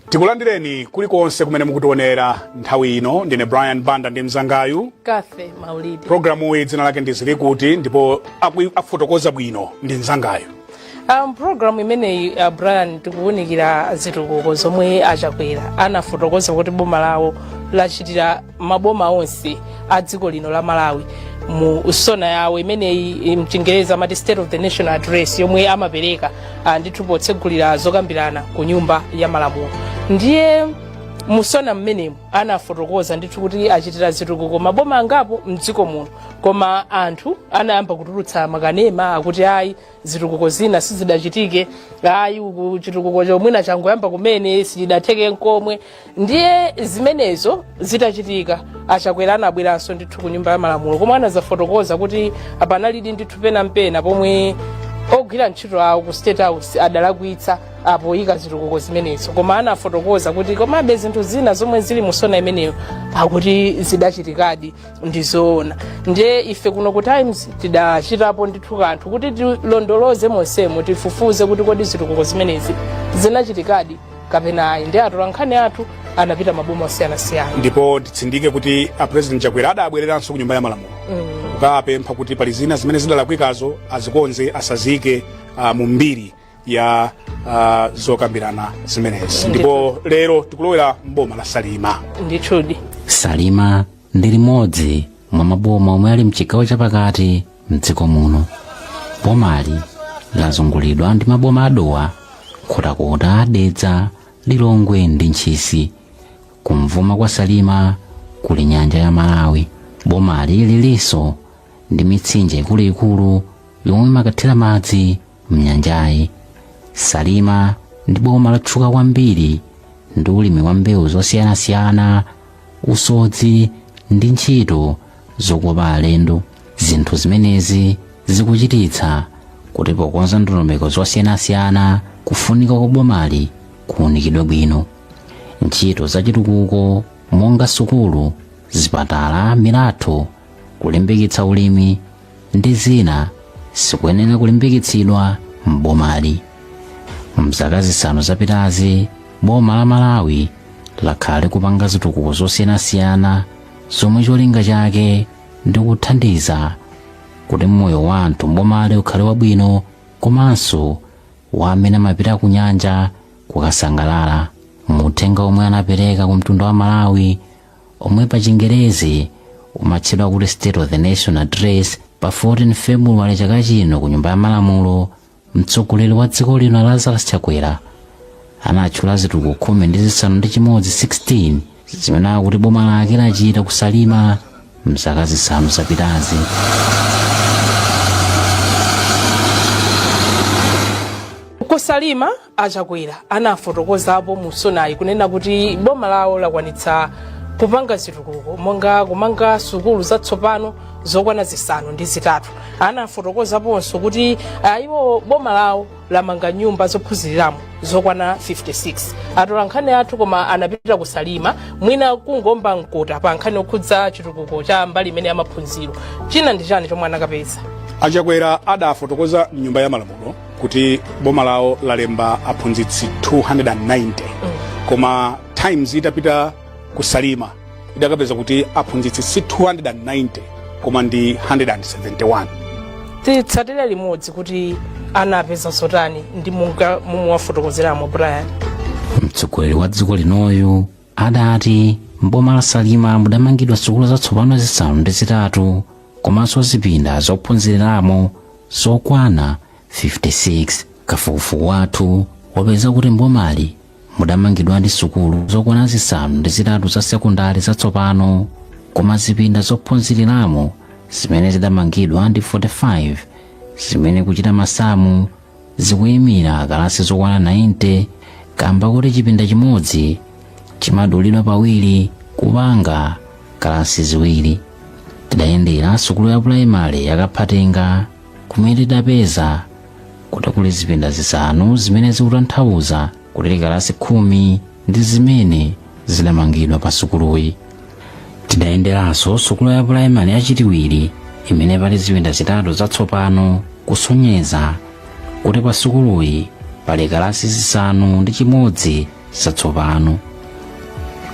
tikulandireni kulikonse kumene mukutionera nthawi ino ndine brian banda ndi mzangayu Cathy Maulidi programu iyi dzina lake ndi zili kuti ndipo akui- afotokoza bwino ndi mzangayu Um, programu imeneyi uh, Brian tikuwunikira zitukuko zomwe a Chakwera anafotokoza kuti boma lawo lachitira maboma onse a dziko lino la Malawi mu sona yawo imeneyi m'chingerezi amati state of the nation address yomwe amapereka uh, ndithu potsegulira zokambirana ku nyumba ya malamulo ndiye mu sona m'menemo anafotokoza ndithu kuti achitira zitukuko maboma angapo mdziko muno koma anthu anayamba kutulutsa makanema akuti ayi zitukuko zina sizidachitike ayi uku chitukuko cho mwina changoyamba kumene sichidatheke nkomwe ndiye zimenezo zitachitika a Chakwera anabweranso ndithu ku nyumba ya malamulo koma anadzafotokoza kuti panalidi ndithu pena mpena pomwe ogwira ntchito awo ku state house adalakwitsa poyika zitukuko zimenezo koma anafotokoza kuti komabe zinthu zina zomwe zili mu sona imeneyo akuti zidachitikadi ndi zoona ndiye ife kuno ku times tidachitapo ndithu kanthu kuti tilondoloze monsemo tifufuze kuti kodi zitukuko zimenezi zinachitikadi kapena ayi ndiye atolankhani athu anapita maboma osiyanasiyana ndipo titsindike kuti a president chakwera adabwereranso ku nyumba ya malamulo kukapempha kuti pali zina zimene zidalakwikazo azikonze asaziike uh, mu mbiri ya uh, zokambirana zimenezi ndipo lero tikulowera mboma la salima ndithudi salima ndi limodzi mwa maboma omwe ali mchigawo chapakati mdziko muno bomali lazungulidwa ndi maboma a dowa nkhotakota dedza lilongwe ndi ntchisi kumvuma kwa salima kuli nyanja ya malawi bomali lilinso ndi mitsinje ikuluikulu yomwe imakathira madzi mnyanjayi salima ndi boma lotchuka kwambiri ndi ulimi wa mbewu zosiyanasiyana usodzi ndi ntchito zokopa alendo zinthu zimenezi zikuchititsa kuti pokonza ndondomeko zosiyanasiyana kufunika kwa bomali kuunikidwe bwino ntchito zachitukuko monga sukulu zipatala milatho kulimbikitsa ulimi ndi zina zikuyenera kulimbikitsidwa m'bomali mzaka zisanu zapitazi boma la malawi lakhala likupanga zitukuko zosiyanasiyana zomwe cholinga chake ndi kuthandiza kuti moyo wa anthu mbomali ukhale wabwino komanso wa amene amapita ku nyanja kukasangalala muthenga omwe anapereka ku mtundu wa malawi omwe pa chingerezi umatchedwa kuti state of the nation address pa 14 february chaka chino ku nyumba ya malamulo mtsogoleri wa dziko lino lazarus chakwera anatchula zitukuko khumi ndi zisanu ndi chimodzi 16 zimene akuti boma lake lachita ku salima mzaka zisanu zapitazi ku salima A Chakwera anafotokozapo mu sonayi kunena kuti boma lawo lakwanitsa kupanga zitukuko monga kumanga sukulu zatsopano zokwana zisanu ndi zitatu anafotokozaponso kuti ah, iwo boma lawo lamanga nyumba zophunziriramo zokwana 56 atolankhani athu koma anapita ku Salima mwina kungoomba mkota pa nkhani yokhudza chitukuko cha mbali imene ya maphunziro china ndi chani chomwe anakapeza A Chakwera adafotokoza mnyumba ya malamulo kuti boma lawo lalemba aphunzitsi 290 koma times itapita ku salima idakapeza kuti aphunzitsi si 290 koma ndi 171 titsatire limodzi kuti anapeza zotani ndi monga momwe wafotokozeramo brian mtsogoleri wa dziko linoyu adati m'boma la salima mudamangidwa sukulu zatsopano zisanu ndi zitatu komanso zipinda zophunziriramo zokwana 56 kafukufuku wathu wapeza kuti mbomali mudamangidwadi sukulu zokwana zisanu ndi zitatu za sekondari zatsopano koma zipinda zophunziriramo zimene zidamangidwa ndi 45 zimene kuchita masamu zikuyimira kalasi zokwana 90 kamba koti chipinda chimodzi chimadulidwa pawiri kupanga kalasi ziwiri tidayendera sukulu ya pulayimale ya kaphatenga kumene tidapeza kuti kuli zipinda zisanu zimene zikutanthauza kuti kalasi khumi ndi zimene zidamangidwa pa sukuluyi tidayenderanso sukulu ya pulayimale ya chitiwiri imene pali zipinda zitatu zatsopano kusonyeza kuti pa sukuluyi pali kalasi zisanu ndi chimodzi zatsopano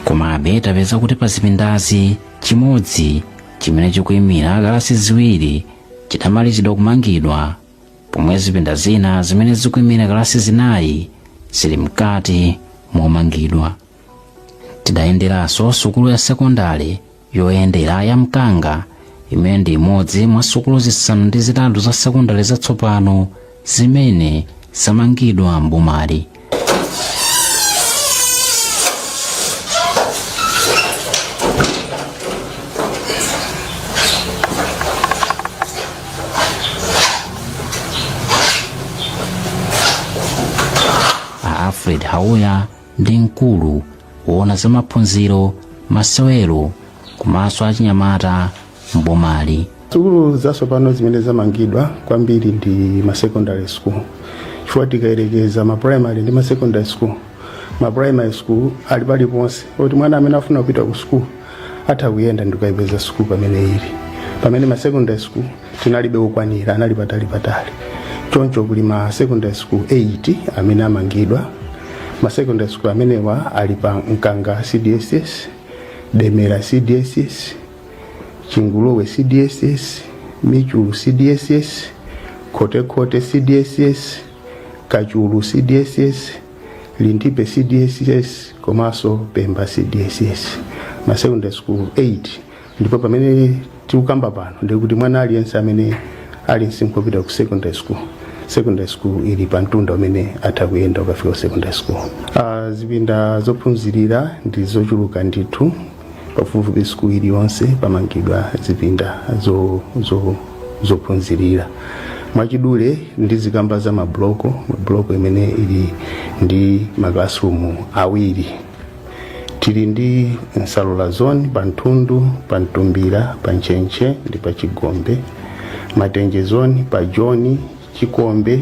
komabe tapeza kuti pa zipindazi chimodzi chimene chikuimira kalasi ziwiri chidamalizidwa kumangidwa pomwe zipinda zina zimene zikuimira kalasi zinayi zili mkati momangidwa tidayenderanso sukulu ya sekondale yoyendera ya mkanga imene ndi imodzi mwa sukulu zisanu ndi zitatu za sekondale zatsopano zimene zamangidwa mbomali a alfred hauya ndi mkulu woona za maphunziro masewero komanso achinyamata m'bomali sukulu zatsopano zimene zamangidwa kwambiri ndi ma secondary school chifukwa tikayerekeza ma primary ndi ma secondary school ma primary school ali paliponse kuti mwana amene afuna kupita ku school atha kuyenda ndikayipeza school pamene ili pamene ma secondary school tinalibe okwanira anali patali patali choncho kuli ma secondary school 8 amene amangidwa ma secondary school amenewa ali pa mkanga cdss demera cdss Chinguluwe CDSS, Michulu CDSS, Khotekhote CDSS, Kachulu CDSS, Lintipe CDSS komanso Pemba CDSS ma secondary school 8 ndipo pamene tikukamba pano ndikuti mwana aliyense amene ali msinkhu wopita ku secondary school secondary school ili pa mtunda umene atha kuyenda kukafika ku secondary school uh, zipinda zophunzirira ndi zochuluka ndithu pafupifupi sukulu iliyonse pamangidwa zipinda zo- zo- zophunzirira mwachidule ndizikamba za mabloko bloko imene ili ndi maclassroom awiri tili ndi nsalula zone pa nthundu pa mtumbira pa ntchentche ndi pa chigombe matenje zone pa joni chikombe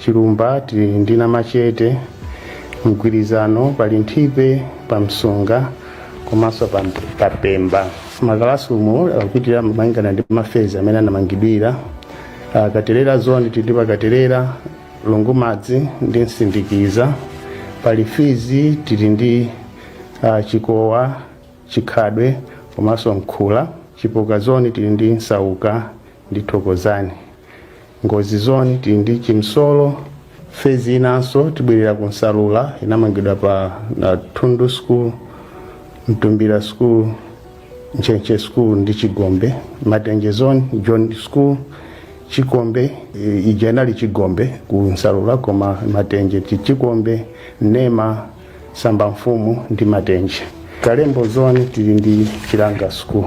chilumba tili ndi namachete mgwirizano pa linthipe pa msunga komanso pa pa pemba makalasirumu akupitira malingana ndi mafezi amene anamangidwira Ah, katelera zone tili ndi pa katelera lungumadzi ndi msindikiza pa lifidzi tili ndi ah, chikowa chikhadwe komanso mkhula chipoka zone tili ndi nsauka ndi thokozani Ngozi zone tili ndi Chimsolo phase inanso tibwerere ku Nsalula inamangidwa pa na Thundu school, Mtumbira school, Ntchentche school ndi Chigombe. Matenje zone John school, Chikombe e, ija inali Chigombe ku Nsalula koma Matenje ndi Chikombe, Nema, Sambamfumu ndi Matenje. Kalembo zone tili ndi Chilanga school.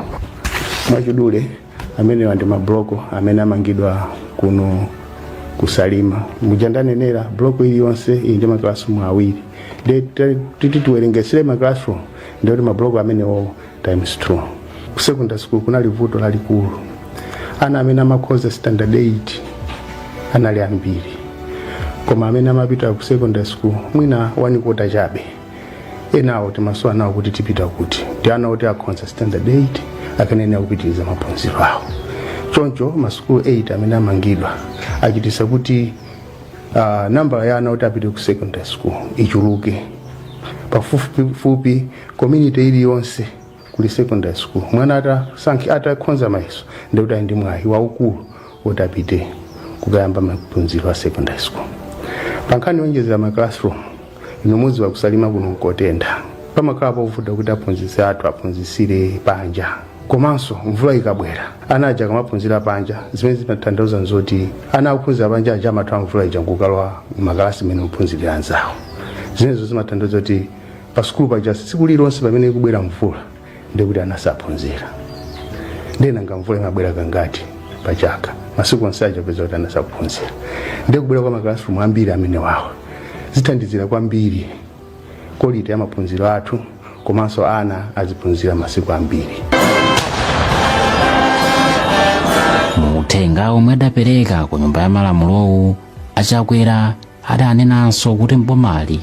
Mwachidule amenewa ndi mabloko amene amangidwa kuno ku salima muja ndanenera bloko iliyonse ili ndi maklasirumu awiri nde titi tiwerengetsere maklasirumu ndiye kuti mabloko amenewo times 2 ku secondary school kunali vuto lalikulu ana amene amakhoza standard 8 anali ambiri koma amene amapita ku secondary school mwina one quarter chabe enawo timasowa nawo kuti tipita kuti ndi ana oti akhonza standard 8 akanayenera kupitiriza maphunziro awo choncho masukulu 8 amene amangidwa achitisa kuti uh, nambala ya ana oti apite ku secondary school ichuluke pafupifupi community iliyonse kuli secondary school mwana atasankhi atakhonza mayeso ndikuti ali ndi mwayi waukulu kuti apite kukayamba maphunziro a secondary school pankhani yonjezera ma classroom inu mudziwa ku salima kuno nkotentha pamakhala povuta kuti aphunzitsi athu aphunzitsire panja komanso mvula ikabwera ana aja akamaphunzira panja zimene zimatanthauza nzoti ana akuphunzira panja aja amathawa mvula ija nkukalowa makalasi amene ophunzirira anzawo zimenezo zimatanthauza kuti pa sukulu paja tsiku lililonse pamene ikubwera mvula ndikuti ana saphunzira ndiye nanga mvula imabwera kangati pa chaka masiku onse aja upeza kuti ana sakuphunzira ndiye kubwera kwa makalasirumu ambiri amenewawa zithandizira kwambiri quality ya maphunziro athu komanso ana aziphunzira masiku ambiri mu uthenga omwe adapereka ku nyumba ya malamulowu a chakwera adanenanso kuti m'bomali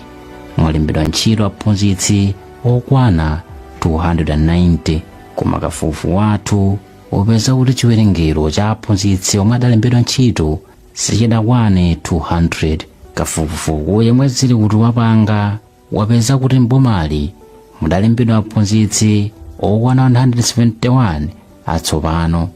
mwalembedwa ntchito aphunzitsi okwana 290 koma kafukufuku wathu wapeza kuti chiwerengero cha aphunzitsi omwe adalembedwa ntchito sichidakwane 200 kafukufuku yemwe zili kuti wapanga wapeza kuti m'bomali mudalembedwa aphunzitsi okwana 171 atsopano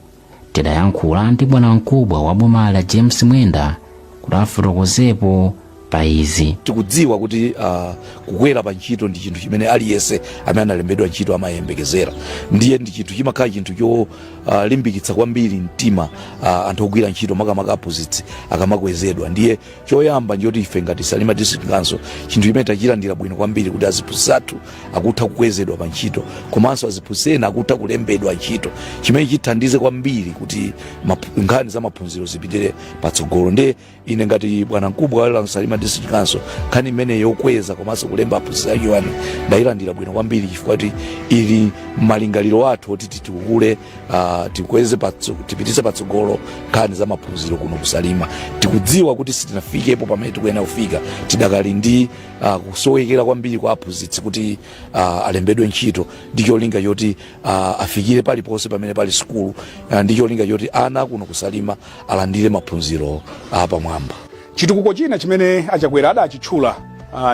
tidayankhula ndi bwanamkubwa wa bomali a james mwenda kuti afotokozepo pa izi tikudziwa kuti uh, kukwera pa ntchito ndi chinthu chimene aliyense amene analembedwa ntchito amayembekezera ndiye ndi chinthu chimakhala chinthu cholimbikitsa uh, kwambiri mtima uh, anthu ogwira ntchito makamaka aphunzitsi akamakwezedwa ndiye choyamba nchoti ife ngati salima district council chinthu chimene tachilandira bwino kwambiri kuti aziphunzitsi athu akutha kukwezedwa pa ntchito komanso aziphunzitsi ena akutha kulembedwa ntchito chimene chithandize kwambiri kuti map- nkhani za maphunziro zipitire patsogolo ndiye ine ngati bwanamkubwa wa salima district council nkhani imene yokweza komanso kulemba aphunzitsi achiwani ndayilandira bwino kwambiri chifukwa kuti ili m'malingaliro athu oti titukule uh, tikweze patso, tipitise patsogolo nkhani za maphunziro kuno ku Salima tikudziwa kuti sitinafikepo pamene tikuyenera kufika tidakali ndi uh, kusowekera kwambiri kwa aphunzitsi kuti uh, alembedwe ntchito ndi cholinga choti uh, afikire paliponse pamene pali sukulu uh, ndi cholinga choti ana kuno ku Salima alandire maphunziro apamwamba uh, Chitukuko china chimene a Chakwera adachitchula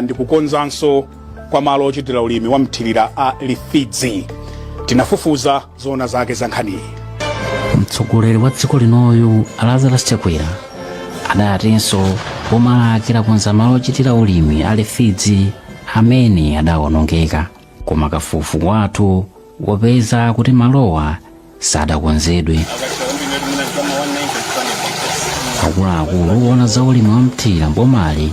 ndi kukonzanso kwa malo ochitira ulimi wa mthirira a Lifidzi. Tinafufuza zoona zake za nkhaniyi. Mtsogoleri wa dziko linoyu a Lazarus Chakwera adatinso boma lake lakonza malo ochitira ulimi a Lifidzi amene adawonongeka. Koma kafukufuku wathu wapeza kuti malowa sadakonzedwe akuluakulu owona za ulimi wa mthirira m'bomali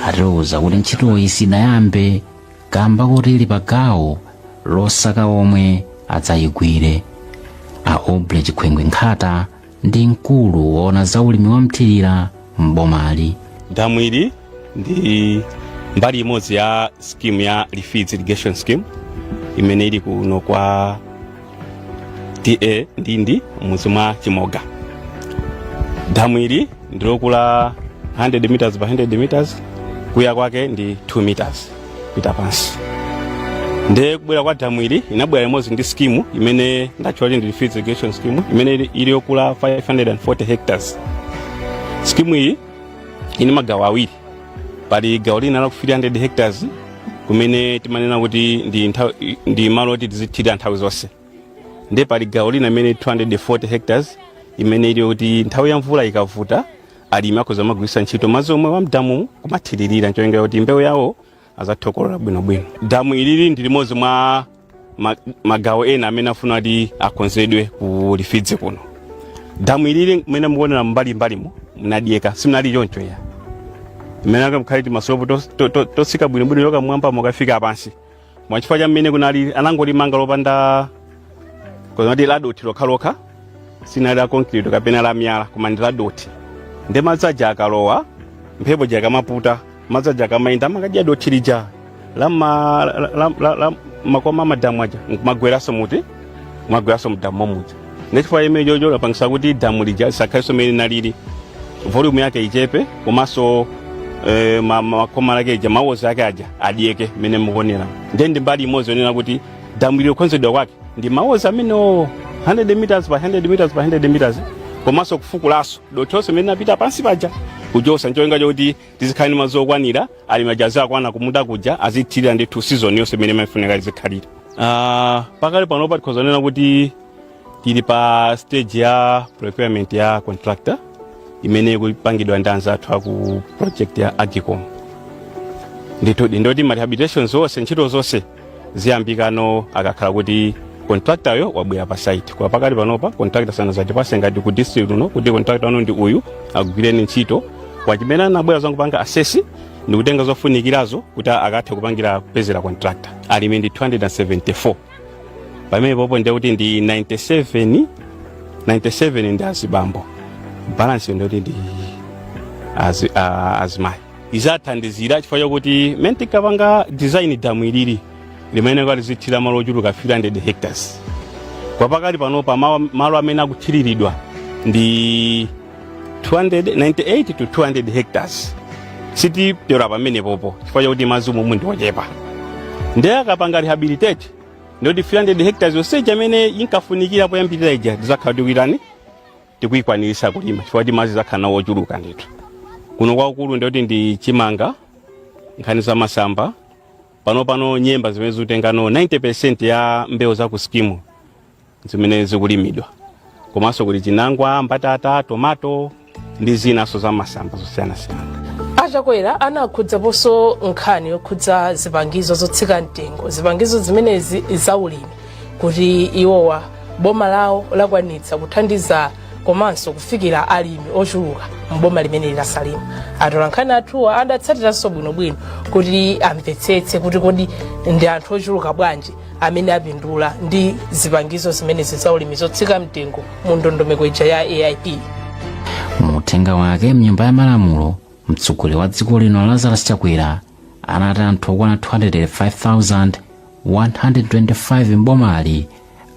atiuza kuti ntchitoyi sidayambe kamba koti ili pa gawo losaka omwe adzayigwire a oble chikhwengwe nkhata ndi mkulu woona za ulimi wa mthirira m'bomali damu ili ndi mbali imodzi ya scheme ya lifidzi irrigation scheme imene ili kuno kwa TA ndindi m'mudzi mwa chimoga damu ili ndilokula 100 meters by 100 meters kuya kwake ndi 2 meters pita pansi nde kubwera kwa damu ili inabwera limodzi ndi skimu imene ndatchula kuti ndi lifidzi irrigation scheme imene ili- ili yokula 540 hectares skimu iyi ili ndi magawo awiri pali gawo lina la 300 hectares kumene timanena kuti ndi, nthawi- ndi malo oti tizithirira nthawi zonse nde pali gawo lina imene 240 hectares imene ili yoti nthawi ya mvula ikavuta alimi akhoza kumagwiritsa ntchito madzi omwewa a m'damu kumathiririra ncholinga kuti mbewu yawo azathe kukolola bwinobwino damu ilili ndi limodzi mwa ma- magawo ena amene afuna kuti akonzedwe ku lifidzi kuno damu ilili mmene mukuonera mbalimbalimo munadyeka simunali choncho ya mmene akamkhali timasilopu totsika bwinobwino yokamwamba kukafika pansi mwachifukwa cha mmene kunali anangolimanga lopanda kodi ladothi lokhalokha sinali la concrete kapena la miyala koma ndi ladothi ndi madzi aja akalowa mphepo ija ikamaputa madzi aja akamayenda amakadya dothi lija la ma- la- la- la- la- makoma a madamu aja nkumagweranso muti kumagweranso mdamu momuja nde chifukwa chimene chocho lapangisa kuti damu lija lisakhalenso mmene linalili volume yake ichepe komanso eh, ma- ma- makoma lake ija ma walls ake aja adyeke mmene mukuonera nde ndi mbali imodzi yonena kuti damu ili kukonzedwa kwake ndi ma walls amenewo 100 meters by 100 meters by 100 meters komanso kufukulanso dothi lonse mmene linapita pansi paja kuchosa ncholinga chokuti tizikhala ndi madzi okwanira alimi aja azakwana kumunda kuja azithirira ndithu season yonse mmene imafunika izikhalira Ah, pakali panopa tikhoza kunena kuti tili pa stage ya procurement ya contractor imene ikupangidwa ndi anzathu aku project ya agcom ndithu ndoti ma rehabilitations onse ntchito zonse ziyambika no akakhala kuti contractor-yo wabwera pa site kwa pakali panopa contractor sanazatipase ngati ku district uno kuti contractor uno ndi uyu akugwireni ntchito kwa chimene anabwera kuzangopanga assess ndi kutenga zofunikirazo kuti akathe kupangira kupezera contractor alimi ndi 274 pamenepopo ndiye kuti ndi 97 97 ndi azibambo balance ndiye kuti ndi azi, a- azimayi izathandizira chifukwa chakuti mmene tinkapanga design damu ilili limene lizithirira malo ochuluka 300 hectares kwa pakali panopa ma- malo amene akuthiriridwa ndi 298 to 200 hectares sitipyola pamenepopo chifukwa chakuti madzi umomu ndi ochepa ndiye akapanga rehabilitate ndikuti 300 hectares yonse imene inkafunikira poyambirira ija tizakhala tikuitani tikuyikwanirisa kulima chifukwa kuti madzi tizakhala nawo ochuluka ndithu kuno kwakukulu ndikuti ndi chimanga nkhani za masamba panopano nyemba zimene zikutengano 90 percent ya mbewu za ku skimu zimene zikulimidwa komanso kuti chinangwa mbatata tomato ndi zinaso za masamba zosiyanasiyana achakwera anakhudzaponso nkhani yokhudza zipangizo zotsika mtengo zipangizo zimenezi zaulimi kuti iwowa boma lawo lakwanitsa kuthandiza komanso kufikira alimi ochuluka mboma limeneli la salima atolankhani athuwa adatsatiranso bwinobwino kuti amvetsetse kuti kodi ndi anthu ochuluka bwanji amene apindula ndi zipangizo zimenezi za ulimi zotsika mtengo mu ndondomeko ija ya aip mu uthenga wake mnyumba ya malamulo mtsogoleri wa dziko lino lazarus chakwera anati anthu okwana 205,000 125 m'bomali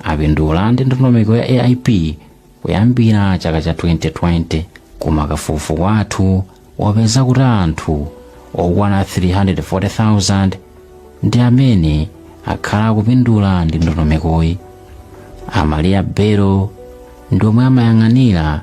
apindula ndi ndondomeko ya AIP kuyambira chaka cha 2020 koma kafukufuku wathu wapeza kuti anthu okwana 340,000 ndi amene akhala akupindula ndi ndondomekoyi amaliya belo ndi omwe amayang'anira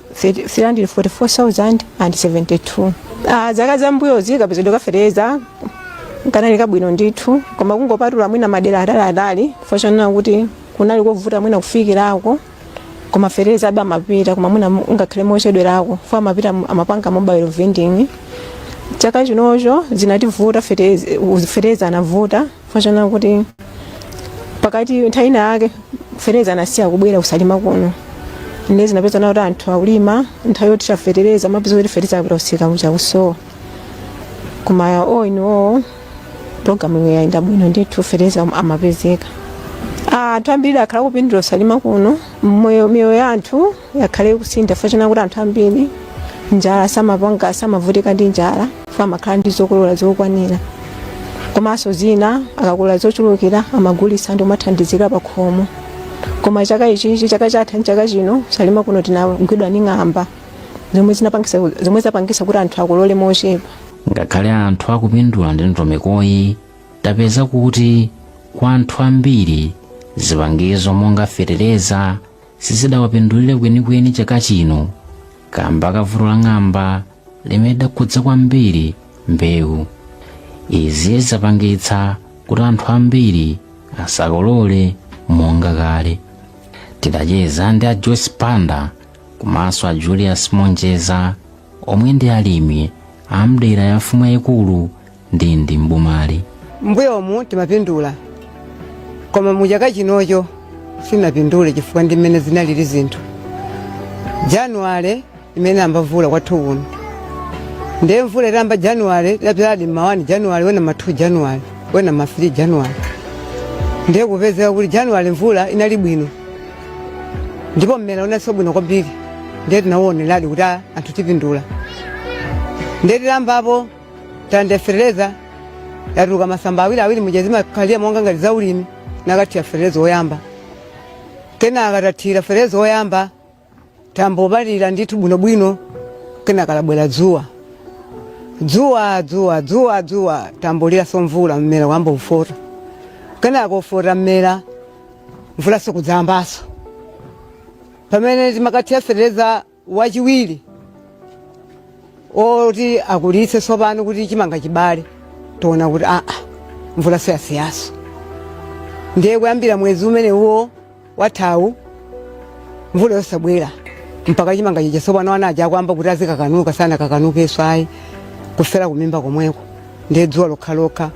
344,072 Ah, zaka zambuyozi kapezedwe ka feteleza kanali kabwino ndithu koma kungopatula mwina madera ataliatali chifukwa chonena kuti kunali kovuta mwina kufikirako koma fetelezabe amapita koma mwina mu- ngakhale mochedwerako chifukwa amapita mu- amapanga mobile vending chaka chinocho zinativuta feteleza feteleza anavuta chifukwa choona kuti pakati nthawi ina yake fetereza anasiya kubwera kusalima kuno nde zinapezeka kuti anthu akulima nthawi yothira fetereza umapeza kuti fetereza akupita kumsika ukusowa koma ino programu iyi yayenda bwino ndithu fetereza amapezeka anthu ambiri akhala akupindula kusalima kuno mmoyo miyoyo ya anthu yakhala ikusintha chifukwa choona kuti anthu ambiri njala samapanga samavutika ndi njala chifukwa amakhala ndi zokolola zokwanira komanso zina akakolola zochulukira amagulitsa ndi kumathandizira pa khomo koma chaka ichichi chaka chatha ndi chaka chino salima kuno tinagwidwa ndi ng'amba zomwe zinapangisa zomwe zapangisa kuti anthu akolole mochepa ngakhale anthu akupindula ndi ndondomekoyi tapeza kuti kwa anthu ambiri zipangizo monga fetereza sizidawapindulire kwenikweni chaka chino kamba ka vuto la ng'amba limene lidakhudza kwambiri mbewu izi zapangitsa kuti anthu ambiri asakolole monga kale tidacheza ndi a joyce panda komanso a julius monjeza omwe ndi alimi a m'dera la mfumu yayikulu ndindi m'bomali mbuyomu timapindula koma mu chaka chinochi sitinapindule chifukwa ndi mmene zinalili zinthu januwale imene imayamba mvula kwathu kuno ndiye mvula itayamba januwale tinadzaladi mma 1 januwale wena ma 2 januwale wena ma 3 januwale ndiye kupezeka kuti januwale mvula inali bwino ndipo mmera unadzuka bwino kwambiri ndiye tinauoneradi kuti ah, anthu tipindula ndiye tilambapo tande fertilizer yatuluka masamba awiri awiri muja zimakhalira muja monga ngati za ulimi tinakathira fertilizer woyamba kenaka titathira fertilizer woyamba tayamba kupalira ndithu bwinobwino kenaka labwera dzuwa dzuwa dzuwa dzuwa dzuwa tayamba kulira tsopano mvula mmera wayamba kufota kenaka kufota mmera mvula sikudzayambaso pamene timakathira fertilizer wachiwiri oti akulitse tsopano kuti chimanga chibale taona kuti aa mvula tsopano yasiyanso ndiye kuyambira mwezi umenewuwo wathawu mvula yosabwera mpaka chimanga chija tsopano ana aja akuyamba kuti azikakanuka sanakakanukenso ayi kufera kumimba komweko ndiye dzuwa lokhalokha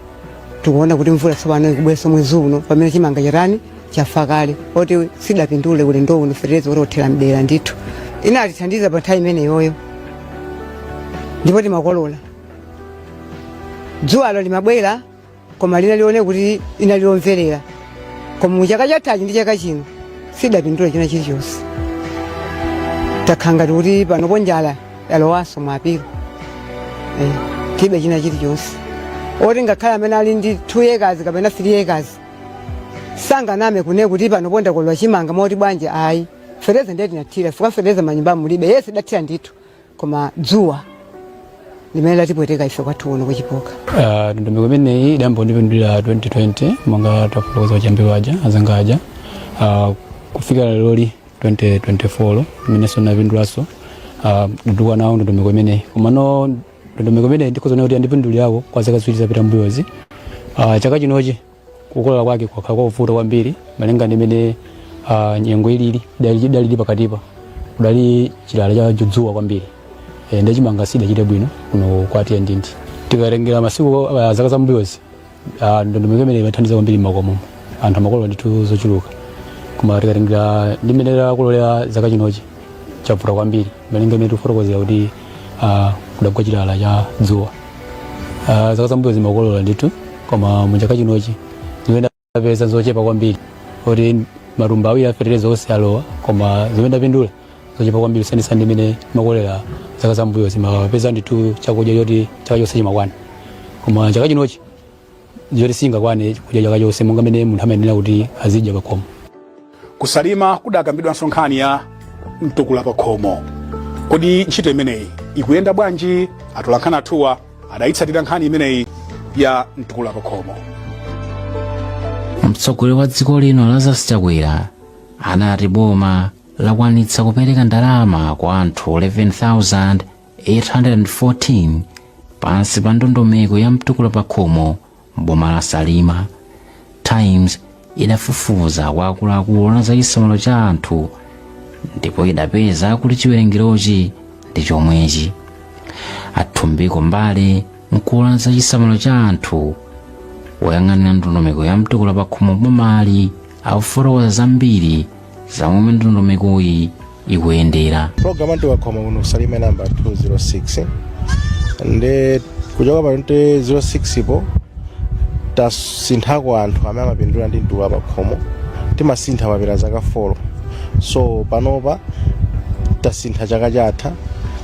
tikuona kuti mvula tsopano ikubweranso mwezi uno pamene chimanga chatani chafa kale moti sitidapindule ulendo uno fertilizer yotsika mtengo ndithu inatithandiza pa nthawi imeneyoyo ndipo timakolola dzuwalo limabwera koma linali loonekadi linali lomverera koma mu chaka chathachi ndi chaka chino sitidapindule china chilichonse takhala ngati kuti panopo njala yalowanso mu epulo eh, tilibe china chilichonse oti ngakhale amene ali ndi 2 acres kapena 3 acres sanganame kunena kuti panopo ndakolola chimanga mwakuti bwanji ayi feteleza ndiye tinathira fuka feteleza manyumba mulibe yense tidathira ndithu koma dzuwa limene latipweteka ife kwathu uno kuchipoka Ah, ndondomeko imeneyi idayamba kundipindulira 2020 monga tafotokoza achambiri aja azanga aja Ah, kufikira leroli 2024 imenenso ndapindulanso uh, ndikutukuka nayo ndondomeko imeneyi komano ndondomeko imeneyi ndikhoza kunena kuti yandipindulirako kwa zaka ziwiri zapita mbuyozi uh, chaka chinochi kukolola kwake kwakhala kwakuvuta kwambiri malinga ndi mmene uh, nyengo ilili idali idalili pakatipa kudali chilala cha judzuwa kwambiri e, nde chimanga sidachite bwino kuno kwa tiyendindi tikatengera masiku uh, zaka zambuyozi Ah, ndondomeko imeneyi imathandiza kwambiri m'makomo anthu amakolola ndithu zochuluka koma tikatengera ndi mmene takololera chaka chinochi chavuta kwambiri malinga ndi mmene tikufotokozera kuti ah, kudagwa chilala cha dzuwa Ah, zaka zambuyozi timakolola ndithu koma mu chaka chinochi zimene tapeza zochepa kwambiri kuti matumba awiri a fetereza onse alowa koma zimene tapindula zochepa kwambiri kusiyanitsa ndi mmene timakololera zaka zambuyozi timapeza ndithu chakudya choti chaka chonse chimakwana koma chaka chinochi ndichoti sichingakwane kudya chaka chonse monga mmene munthu amayenera kuti azidya pakhomo kusalima kudakambidwanso nkhani ya mtukula pakhomo kodi ntchito imeneyi ikuyenda bwanji atolankhani athuwa adayitsatira nkhani imeneyi ya mtukula pakhomo mtsogoleri wa dziko lino lazarus chakwera anati boma lakwanitsa kupereka ndalama kwa anthu 11,814 pansi pa ndondomeko ya mtukula pakhomo m'boma la salima times idafufuza kwa akuluakulu oona za chisamaliro cha anthu ndipo idapeza kuti chiwerengerochi ndi chomwechi a thumbiko mbale mkulu woona za chisamaliro cha anthu woyang'anira ndondomeko ya mtukula pakhomo m'bomali akufotokoza zambiri za momwe ndondomekoyi ikuyendera program ya mtukula pakhomo kuno kusalima inayamba 206 nde kuchoka pa 206 po tasinthako anthu amene amapindula ndi mtukula pakhomo timasintha pakapita zaka 4 so panopa tasintha chaka chatha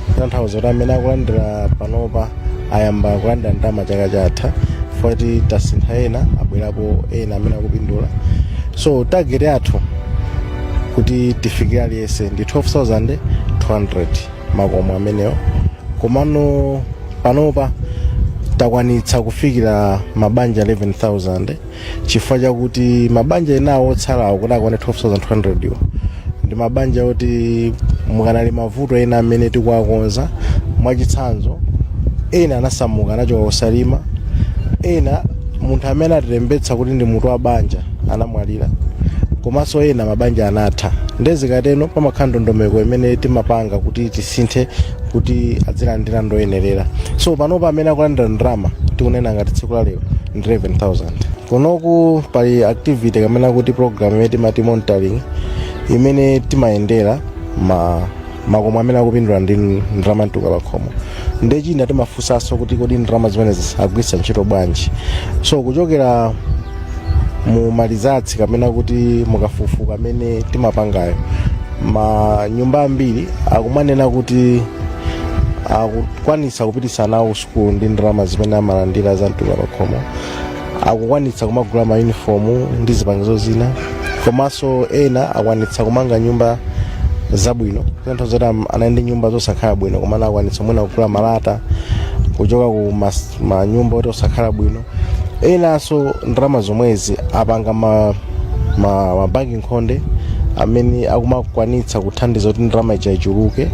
kutanthauza kuti amene akulandira panopa ayamba kulandira ndalama chaka chatha poti tasintha ena abwerapo ena amene akupindula so target yathu kuti tifikire aliyense ndi 12200 makomo amenewo komano panopa takwanitsa kufikira mabanja 11000 chifukwa chakuti mabanja enawo otsalawo kuti akwane 12200 iwo ndi mabanja oti mukanali mavuto ena amene tikuwakonza mwachitsanzo ena anasamuka anachoka kusalima ena munthu amene analembetsa kuti ndi mutu wa banja anamwalira komanso ena mabanja anatha nde zikateno pamakhala ndondomeko imene timapanga kuti tisinthe kuti adzilandira ndoyenerera so panopa amene akulandira ndalama tikunena ngati tsiku la lero 11000 kunoku pali activity kamene akuti program imene timati monitoring imene timayendera ma makomo amene akupindula ndi ndalama za mtukula pakhomo nde china timafunsanso kuti kodi ndalama zimenezi agwiritsa ntchito bwanji so kuchokera mu ma results kapena kuti mukafukufuku amene timapangayo manyumba ambiri akumanena kuti akukwanisa kupititsa ana awo sukulu ndi ndalama zimene amalandira za mtukula pakhomo akukwanitsa kumagula mayunifomu ndi zipangizo zina komanso ena akwanitsa kumanga nyumba zabwino zinthu zoti am- anali ndi nyumba zosakhala bwino koma anakwanitsa mwina kugula malata kuchoka ku mas- manyumba oti osakhala bwino enanso ndalama zomwezi apanga ma, ma, ma banki nkhonde amene akumakwanitsa kuthandiza kuti ndalama ija ichuluke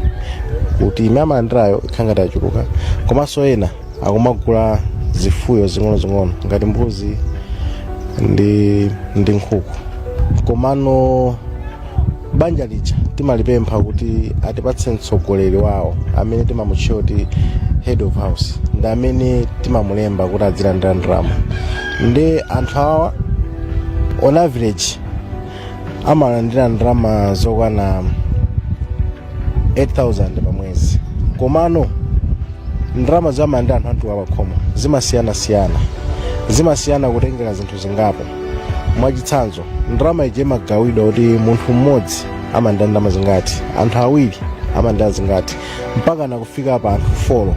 kuti imene amalandirayo ikhale ngati achuluka komanso ena akumagula zifuyo zing'onozing'ono ngati mbuzi ndi, ndi nkhuku komano banja lija timalipempha kuti atipatse mtsogoleri wawo amene timamutchula kuti head of house ndi amene timamulemba kuti adzilandira ndalama ndi anthu awa on average amalandira ndalama zokwana 8000 pa mwezi komano ndalama zomwe amalandira anthu a mtukula pakhomo zimasiyanasiyana zimasiyana kutengera zinthu zingapo mwachitsanzo ndalama ije imagawidwa kuti munthu mmodzi amalandira ndalama zingati anthu awiri amalandira zingati mpaka nakufika pa anthu folo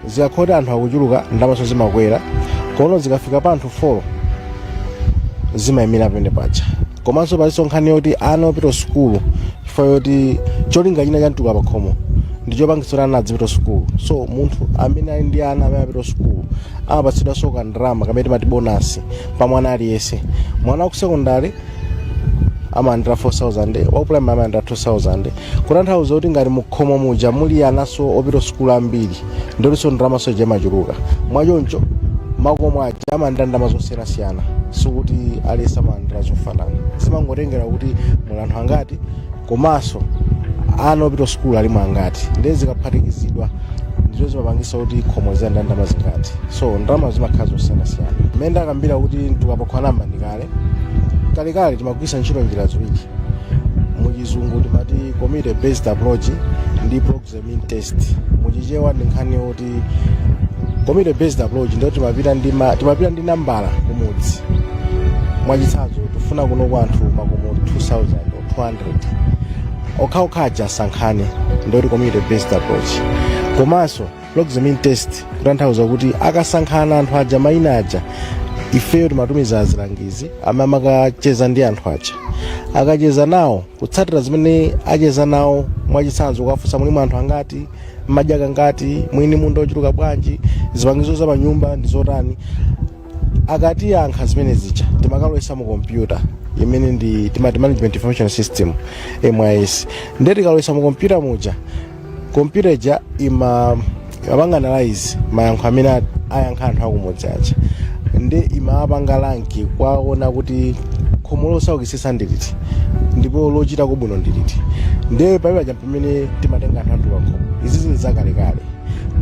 zikakhoti anthu akuchuluka ndalamaso zimakwera komano zikafika pa anthu folo zimayimira pene paja komanso palinso nkhani yoti ana opita sukulu chifukwa choti cholinga china cha mtukula pakhomo ndi chopangitsa kuti ana adzipita sukulu so munthu amene ali ndi ana amene apita sukulu amapatsidwanso kandalama kamene timati bonasi pa mwana aliyense mwana wa ku sekondari amalandira 4000 wa primary amalandira 2000 kutanthauza kuti ngati mukhomo muja muli ananso opita sukulu ambiri ndiponso ndalamaso ija imachuluka mwachoncho makomo aja amalandira ndalama zosiyanasiyana sikuti aliyense amalandira zofanana zimangotengera kuti muli anthu angati komanso ana opita sukulu alimo angati ndiye zikaphatikizidwa ndizo zimapangisa kuti khomo lizilandira ndalama zingati so ndalama zimakhala zosiyanasiyana mmene ndakambira kuti mtukula pakhomo anayamba ndi kalekale timagwiritsa ntchito njira ziwiri muchizungu timati community based approach ndi proxy means test muchichewa ndi nkhani yoti community based approach ndiyo timapita ndi ma- timapita ndi nambala kumudzi mwachitsanzo tifuna kuno kwa anthu makomo 2000 or 200 okhaokha aja asankhane ndiyo community based approach komanso proxy means test kutanthauza kuti akasankhana anthu aja maina aja ifeyo timatumiza azilangizi amene amakacheza ndi anthu aja akacheza nawo kutsatira zimene acheza nawo mwachitsanzo kukafunsa muli mwa anthu angati mmadya kangati muli ndi munda ochuluka bwanji zipangizo za panyumba ndi zotani akatiyankha zimene zija timakalowetsa mu kompyuta imene ndi timati management information system mis ndiye tikalowetsa mu kompyuta muja kompyuta ija ima imapanga analyze mayankho amene a- ayankha anthu akumudzi aja ndiye imapanga rank kuwona kuti khomo losaukitsitsa ndi liti ndipo lochitako bwino ndi liti ndiye pali paja pamene timatenga anthu amtukula pakhomo izi zili zakalekale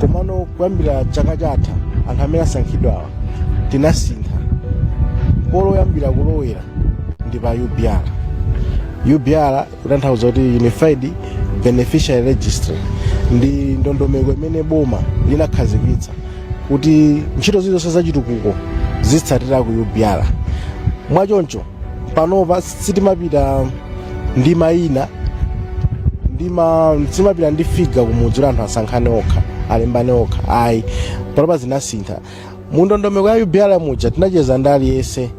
komano kuyambira chaka chatha anthu amene asankhidwawa tinasintha poyambira polowera ndi pa ubr ubr kutanthauza kuti unified beneficiary registry ndi ndondomeko imene boma linakhazikitsa kuti ntchito zilizonse zachitukuko zizitsatira ku ubr mwachoncho panopa sitimapita ndi mayina ndi ma sitimapita ndi figa kumudzi kuti anthu asankhane okha alembane okha ayi panopa zinasintha mu ndondomeko ya ubr muja tinacheza ndi aliyense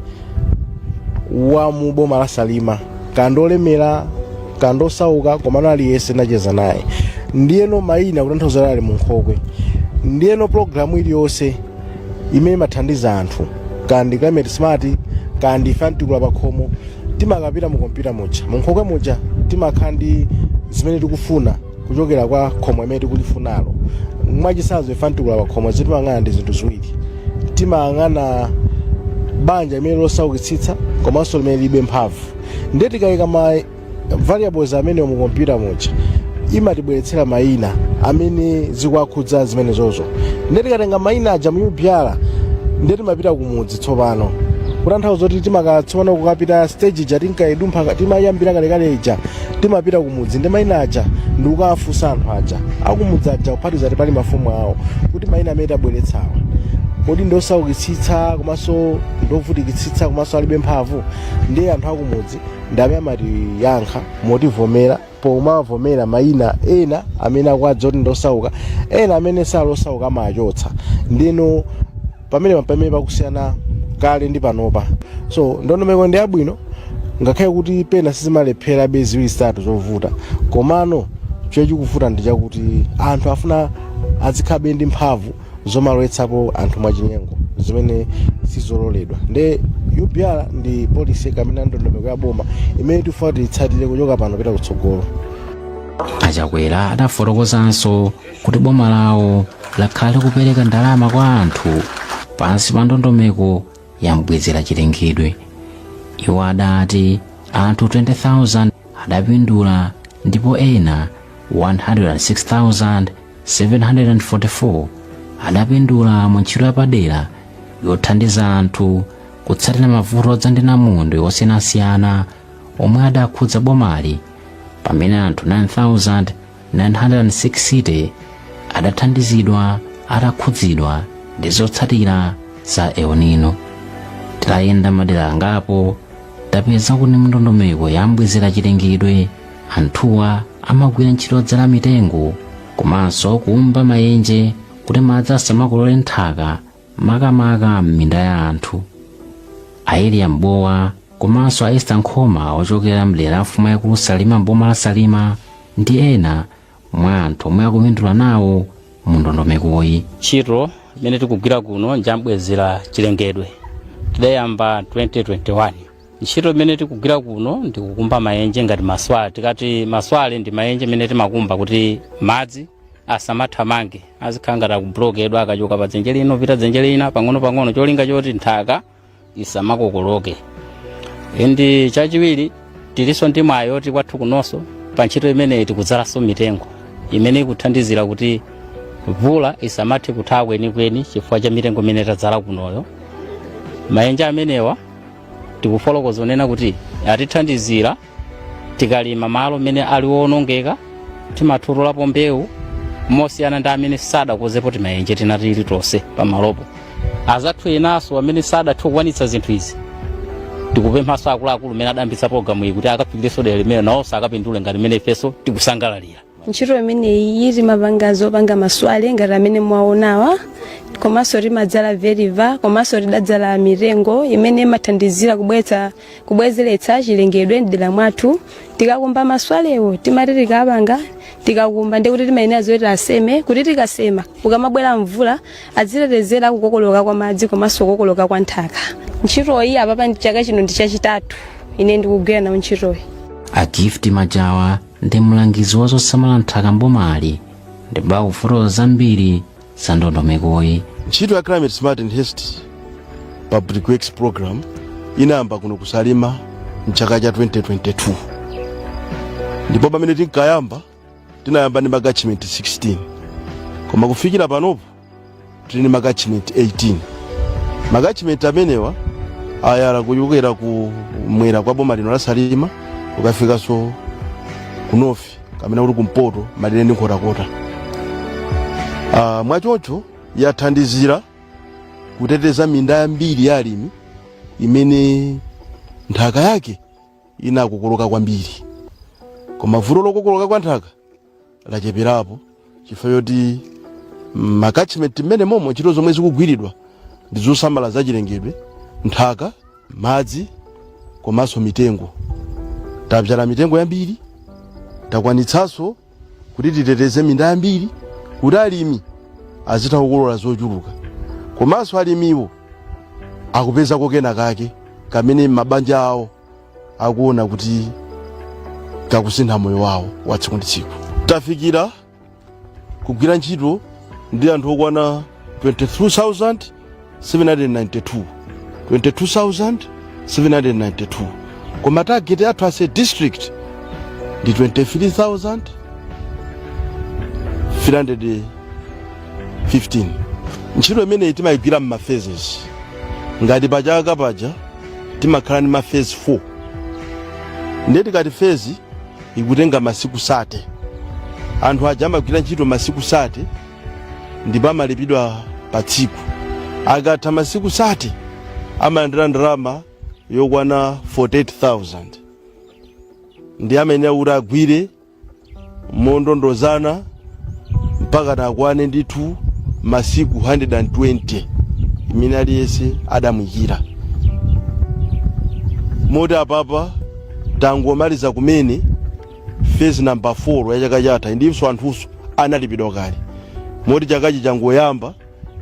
wa mu boma la salima kaya ndi olemera kaya ndi osauka komano aliyense tinacheza naye ndiyeno mayina kutanthauza ali mu nkhokwe ndiyeno pulogalamu iliyonse imene imathandiza anthu kaya ndi climate smart kaya ndi ife amtukula pakhomo timakapita mu kompyuta muja mu nkhokwe muja timakhala ndi zimene tikufuna kuchokera kwa khomo limene tikulifunalo mwachisanzo ife amtukula pa khomo zimene timayang'ana ndi zinthu ziwiri timayang'ana banja limene losaukitsitsa komanso limene lilibe mphamvu ndiye tikayika ma variables amenewo mu kompyuta muja imatibweretsera mayina amene zikuwakhudza zimenezozo ndiye tikatenga mayina aja mu ubr ndiye timapita kumudzi tsopano kutanthauza kuti timakhala tsopano kukapita stage ija tinkayidumpha timayambira kalekale ija timapita kumudzi ndi maina aja ndi kukawafunsa anthu aja akumudzi aja kuphatiza ati pali mafumu awo kuti maina amene tabweretsawa kodi ndiosaukitsitsa komanso ndiovutikitsitsa komanso alibe mphamvu ndiye anthu akumudzi ndi amene amatiyankha motivomera pomavomera maina ena amene akuwadziwa kuti ndiosauka ena amene sali osauka amachotsa ndiyeno pamene pamene pakusiyana kale ndi panopa so ndondomeko ndi yabwino ngakhale kuti pena sizimalepherabe ziwiri zitatu zovuta komano chomwe chikuvuta ndi chakuti anthu afuna azikhalabe ndi mphamvu zomalowetsapo anthu mwachinyengo zimene sizololedwa nde ubr ndi policy kapena ndondomeko ya boma imene tifuna tiyitsatire kuchoka pano kupita kutsogolo achakwera adafotokozanso kuti boma lawo lakhala likupereka ndalama kwa anthu pansi pa ndondomeko ya mbwezera chilengedwe iwo adati anthu 20,000 adapindula ndipo ena 106,744 adapindula mu ntchito yapadera yothandiza anthu kutsatira mavuto odza ndi namondwe osiyanasiyana omwe adakhudza bomali pamene anthu 9,000 960 adathandizidwa atakhudzidwa ndi zotsatira za El Nino. Titayenda madera angapo tapeza kuti mndondomeko yambwezera chilengedwe anthuwa amagwira ntchito yodzala mitengo komanso kukumba mayenje kuti madzi asamakokolole nthaka makamaka m'minda ya anthu a eliya mbowa komanso a esta nkhoma ochokera mdera la mfumu yaikulu salima mboma la salima ndi ena mwa anthu omwe akupindula nawo mu ndondomekoyi ntchito imene tikugwira kuno njambwezera chilengedwe tidayamba 2021 ntchito imene tikugwira kuno ndikukumba mayenje ngati maswale tikati maswale ndi mayenje imene timakumba kuti madzi asamathamange azikhala ngati akubulokedwa akachoka pa dzenje lino pita dzenje lina pang'onopang'ono cholinga choti nthaka isamakokoloke ndi chachiwiri tilinso ndi mwayi oti kwathu kunonso pa ntchito imeneyi tikudzalanso mitengo imene ikuthandizira kuti mvula isamathe kuthawa kwenikweni chifukwa cha mitengo imene tadzala kunoyo mayenje amenewa tikufotokoza zonena kuti atithandizira tikalima malo amene ali woonongeka timatutulapo mbewu mosiyana ndi amene sadakozepo timayenje tina tilitonse pamalopo azathu enanso amene sadathe kukwanitsa zinthu izi tikupemphanso akuluakulu amene adayambitsa pologalamu iyi kuti akafikirenso dera limene nawonso akapindule ngati mmene ifenso tikusangalalira ntchito imeneyi timapanga zopanga maswale ngati amene mwaonawa komanso timadzala vetiva komanso tidadzala mitengo imene imathandizira kubweza kubwezeretsa chilengedwe mdera mwathu tikakumba maswalewo timati tikapanga tikakumba ndikuti timayala zoti tiseme kuti tikasema ukamabwera mvula adzitetezera kukokoloka kwa madzi komanso kukokoloka kwa nthaka ntchitoyi apapa ndi chaka chino ndi chachitatu ine ndikugwira nawo ntchitoyi a gift majawa ndi mlangizi wa zosamala nthaka mbomali ndipo akufotokoza zambiri za ndondomekoyi ntchito ya climate smart enhanced public works program inayamba kuno ku salima mchaka cha 2022 ndipo pamene tinkayamba tinayamba ndi makachimenti 16 koma kufikira panopo tili ndi makachimenti 18 makachimenti amenewa ayala kuchokera ku mwera kwa boma lino la salima kukafikanso ku nofi kamene kuli kumpoto malire ndi nkhotakota Ah, mwachoncho yathandizira kuteteza minda yambiri ya alimi imene nthaka yake inakokoloka kwambiri koma vuto lokokoloka kwa nthaka lacheperapo chifukwa choti m'makachimenti m'menemomo ntchito zomwe zikugwiridwa ndi zosamala zachilengedwe nthaka madzi komanso mitengo tabzala mitengo yambiri takwanitsanso kuti titeteze minda yambiri kuti alimi azitha kukolola zochuluka komanso alimiwo akupezako kena kake kamene m'mabanja awo akuona kuti kakusintha moyo wawo wa tsiku ndi tsiku tafikira kugwira ntchito ndi anthu okwana 22792 koma target yathu as a district ndi 23315 ntchito imeneyi timayigwira m'maphases ngati pachaka paja timakhala ndi mafezi 4 ndiye tikati fezi ikutenga masiku sate anthu aja amagwira ntchito masiku sate ndipo amalipidwa pa tsiku akatha masiku sate amalandira ndalama yokwana 48000 ndi amayenera kuti agwire mondondozana mpaka nakwane ndithu masiku 120 imene aliyense adamuyikira moti apapa tangomaliza kumene phase number 4 ya chaka chathachi ndinso anthunso analipidwa kale moti chakachi changoyamba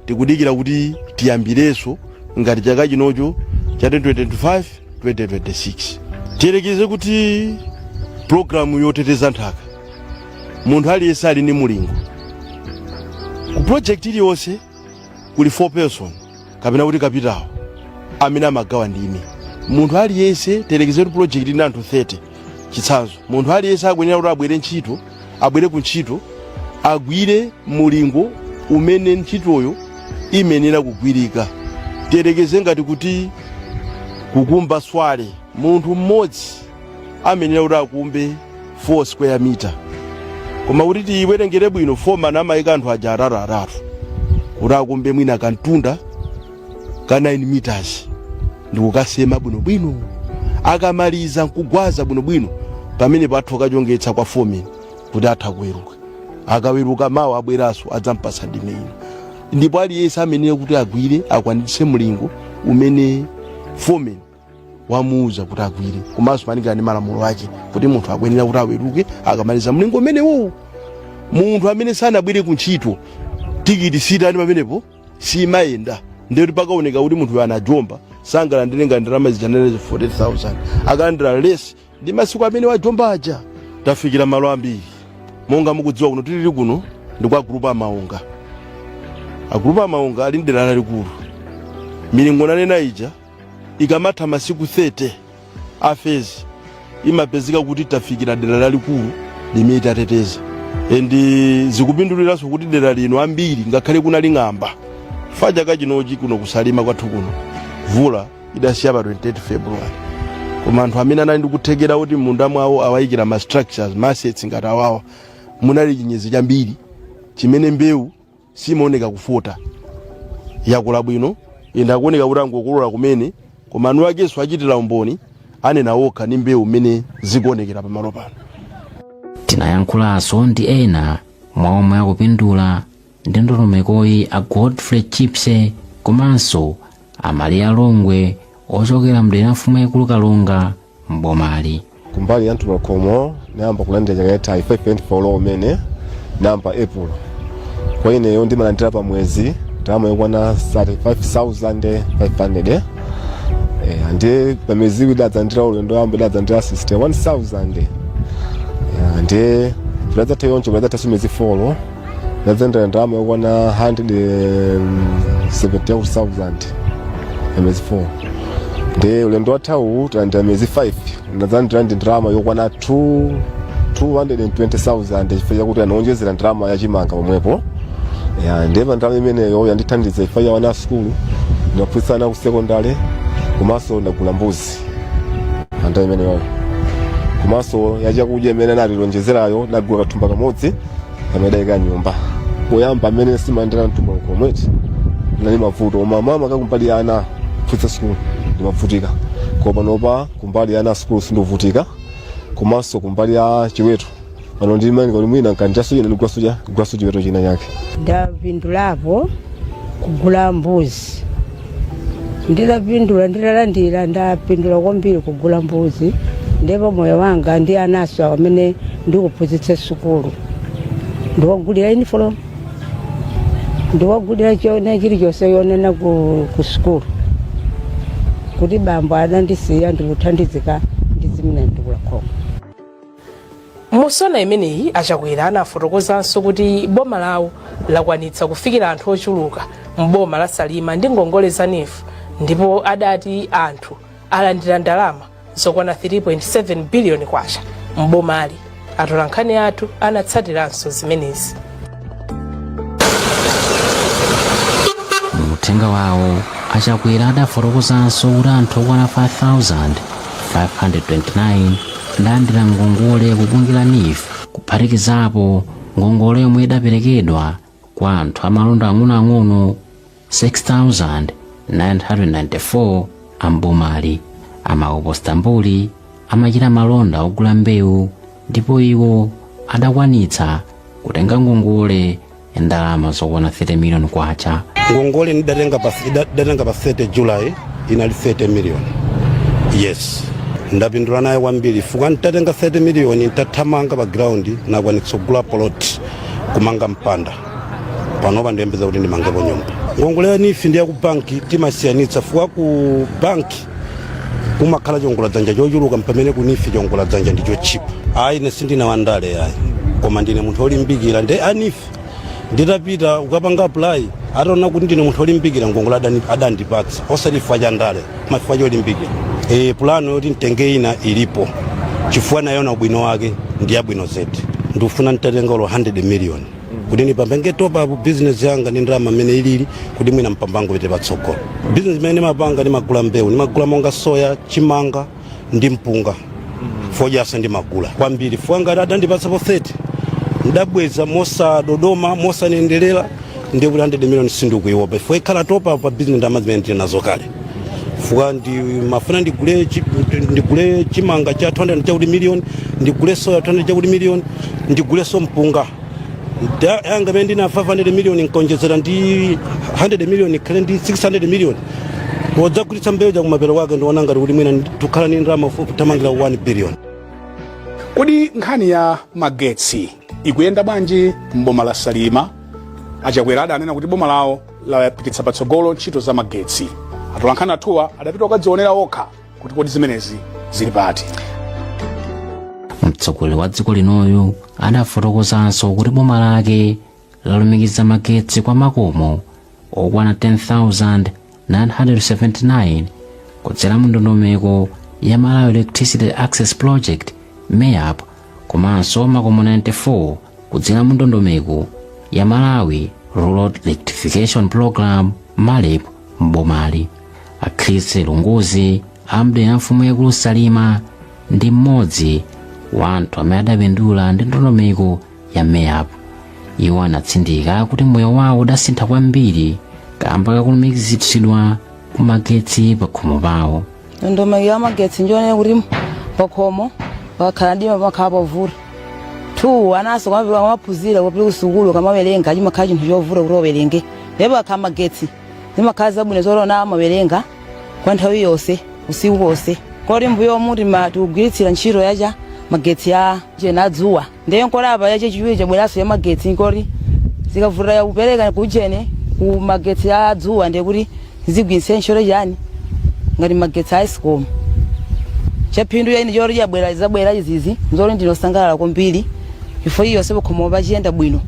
tikudikira kuti tiyambirenso ngati chaka chinocho cha 2025 2026 tiyerekeze kuti pulogalamu yoteteza nthaka munthu aliyense ali ndi mulingo ku project iliyonse kuli foreperson kapena kuti kapitawo amene amagawa ndime munthu aliyense tiyerekeze kuti project ili ndi anthu 30 chitsanzo munthu aliyense akuyenera kuti abwere ntchito abwere ku ntchito agwire mulingo umene ntchitoyo imenera kugwirika tiyerekeze ngati kuti kukumba swale munthu mmodzi amenera kuti akumbe 4 square meter koma kuti tiyiwerengere bwino foreman amayika anthu aja atatu atatu kuti akumbe mwina kamtunda ka 9 meters ndikukasema bwinobwino akamaliza nkugwaza bwinobwino pamene pathu akachongetsa kwa foreman kuti atha kuweruka akaweruka mawa abweranso adzampasa ndime ino ndipo aliyense amenera kuti agwire akwanitse mlingo umene foreman wamuuza kuti agwire komanso malingana ndi malamulo ake kuti munthu akuyenera kuti aweruke akamaliza mlingo umenewu munthu amene sanabwere ku ntchito tikiti sitani pamenepo simayenda ndikuti pakaoneka kuti munthu anajomba sangalandire ngati ndalama zija nanena 40000 akalandira less ndi masiku amene wajomba aja tafikira malo ambiri monga mukudziwa kuno tilili kuno ndi kwa a gulupu a Maonga a gulupu a Maonga ali ndi dera lalikulu milingo nanena ija ikamatha masiku 30 a phase imapezeka kuti tafikira dera lalikulu limene tateteza and zikupinduliranso kuti dera lino ambiri ngakhale kunali ng'amba fact chaka chinochi kuno ku Salima kwathu kuno vula idasiya pa 28 february koma anthu amene anali ndikuthekera kuti mmunda mwawo awayikira ma structures ma assets ngati awawa munali chinyezi chambiri chimene mbewu simaoneka kufota yakula bwino ende akuoneka kuti angokolola kumene koma anu akenso achitira umboni anena okha ndi mbewu mmene zikuonekera pamalo pano tinayankhulanso ndi ena mwa omwe akupindula ndi ndondomekoyi a godfrey chipse komanso a Maliya Longwe ochokera mdera mfumu yaikulu kalonga m'bomali. kumbali ya mtukula pakhomo ndayamba kulandira chaka yatha 5.4 low umene nayamba april kwa ineyo ndimalandira pa mwezi ndalama yokwana 35500 eh, ndiye pa miyezi iwiri ndidadzalandira ulendo woyamba ndidadzalandira 61000 eh, ndiye padadzatha choncho padadzatha si miyezi 4 ndadzalandira ndalama yokwana 170,000 ya miyezi 4 ndi ulendo wathawu tinalandira miyezi 5 ndadzalandira ndalama yokwana 220,000 chifukwa chakuti anaonjezera ndalama yachimanga pomwepo ndiye pa ndalama imeneyo yandithandiza chifukwa cha wana asukulu ndinaphunzitsa ana ku sekondale komanso ndagula mbuzi pa ndalama imeneyoyo komanso yachakudya imene anationjezerayo ndagula kathumba kamodzi kamene ndaika m'nyumba poyamba mmene sindimalandira mtukula pakhomoti ndinali mavuto koma makamaka kumbali ya ana kupititsa sukulu ndimkavutika koma panopa kumbali ya ana sukulu sindikuvutika komanso kumbali ya chiweto pano ndimaona kuti mwina ndikalandiranso china ndigulanso chi- ndigulanso chiweto china chake ndapindulapo kugula mbuzi ndidapindula nditalandira ndapindula kwambiri kugula mbuzi ndipo moyo wanga ndi anansowo amene ndikuphunzitsa sukulu ndiwagulira uniform ndiwagulira china chilichonse ponena ku, ku sukulu kuti bambo adandisiya ndikuthandizika ndi zimenezi mtukula pakhomo Msonkhano umenewu a Chakwera anafotokozanso kuti boma lawo lakwanitsa kufikira anthu ochuluka m'boma la Salima ndi ngongole za NEEF ndipo adati anthu alandira ndalama zokwana 3.7 biliyoni kwacha m'bomali. Atolankhani athu anatsatiranso zimenezi. mu uthenga wawo a Chakwera adafotokozanso kuti anthu okwana 5529 adalandira ngongole ku bungwe la NEEF kuphatikizapo ngongole yomwe idaperekedwa kwa anthu amalonda ang'onoang'ono 6994 a m'bomali a Mahopo Stambuli amachita malonda ogula mbewu ndipo iwo adakwanitsa kutenga ngongole ndalama zokwana 30 miliyoni kwacha ngongole ndidatenga pa 30 july inali 30 million yes ndapindula nayo kwambiri chifukwa nditatenga 30 million nditathamanga pa ground ndakwanitsa kugula plot kumanga mpanda panopa ndikuyembekeza kuti ndimangepo nyumba ngongole ya NEEF ndi ya ku banki timasiyanitsa chifukwa ku banki kumakhala chiwongola dzanja chochuluka pamene ku NEEF chiwongola dzanja ndi chotchipa ayi ine sindine wandale ayi koma ndine munthu olimbikira nde a NEEF nditapita kukapanga apply ataona kuti ndine munthu olimbikira ngongole adani- adandipatsa osati chifukwa cha ndale koma chifukwa cholimbikira e, pulano yoti nditenge ina ilipo chifukwa ndayiona ubwino wake ndi yabwino zedi ndikufuna nditatenga olo 100 miliyoni kuti ndipange top up business yanga ndi ndalama mmene ilili kuti mwina mpamba upite patsogolo business imene ndimapanga ndimagula mbewu ndimagula monga soya chimanga ndi mpunga fodyaso ndimagula kwambiri chifukwa ngati adandipatsapo 30 ndabweza mosadodoma mosanendelera ndi kuti 100 million sindikuiopa chifukwa ikhala top up pa business ndalama zimene tili nazo kale chifukwa ndimafuna ndigule chi- ndigule chimanga cha 200 chakuti miliyoni ndigule soya 200 chakuti miliyoni ndiguleso mpunga Da- yanga pano ndi 500 miliyoni nkonjezera ndi 100 miliyoni ikhale ndi 600 miliyoni wodzagulitsa mbewu chakumapero kwake ndiona ngati kuti mwina tikhala ni ndalama fupi kumakwana 1 biliyoni kodi nkhani ya magetsi ikuyenda bwanji m'boma la salima a chakwera adanena kuti boma lawo lapititsa patsogolo ntchito za magetsi atolankhani athuwa adapita kukadzionera okha kuti kodi zimenezi zili pati mtsogoleri wa dziko linoyu adafotokozanso kuti boma lake lalumikiza magetsi kwa makomo okwana 10979 kudzera mu ndondomeko ya malawi electricity access project meap komanso makomo 94 kudzera mu ndondomeko ya malawi rural electrification program marep m'bomali a chris lunguzi a m'dera la mfumu yaikulu salima ndi mmodzi wa anthu amene adapindula ndi ndondomeko ya meap iwo anatsindika kuti moyo wawo udasintha kwambiri kamba kakulumikizitsidwa kumagetsi pakhomo pawo ndondomeko ya magetsi njonena kuti pakhomo pakakhala mdima pamakhala pavuta two ananso amapita amaphunzira kupita kusukulu kamawerenga chimakhala chinthu chovuta kuti wawerenge ndipo pakakhala magetsi zimakhala zabwino zolona amawerenga kwa nthawi yonse usiku wonse koti mbuyomu tinkagwiritsira ntchito yacha magetsi a ujeni dzuwa Ndiye nkona apa ya chachiwiri chabweranso ya magetsi nkoti zikavuta ya kupereka kujeni ku magetsi a dzuwa ndiye kuti zigwiritse ntchito chani ngati magetsi a escom chaphindu chake choti chabwera zabwera izizi nzoti ndinosangalala kwambiri chifukwa chilichonse pakhomo pakuyenda bwino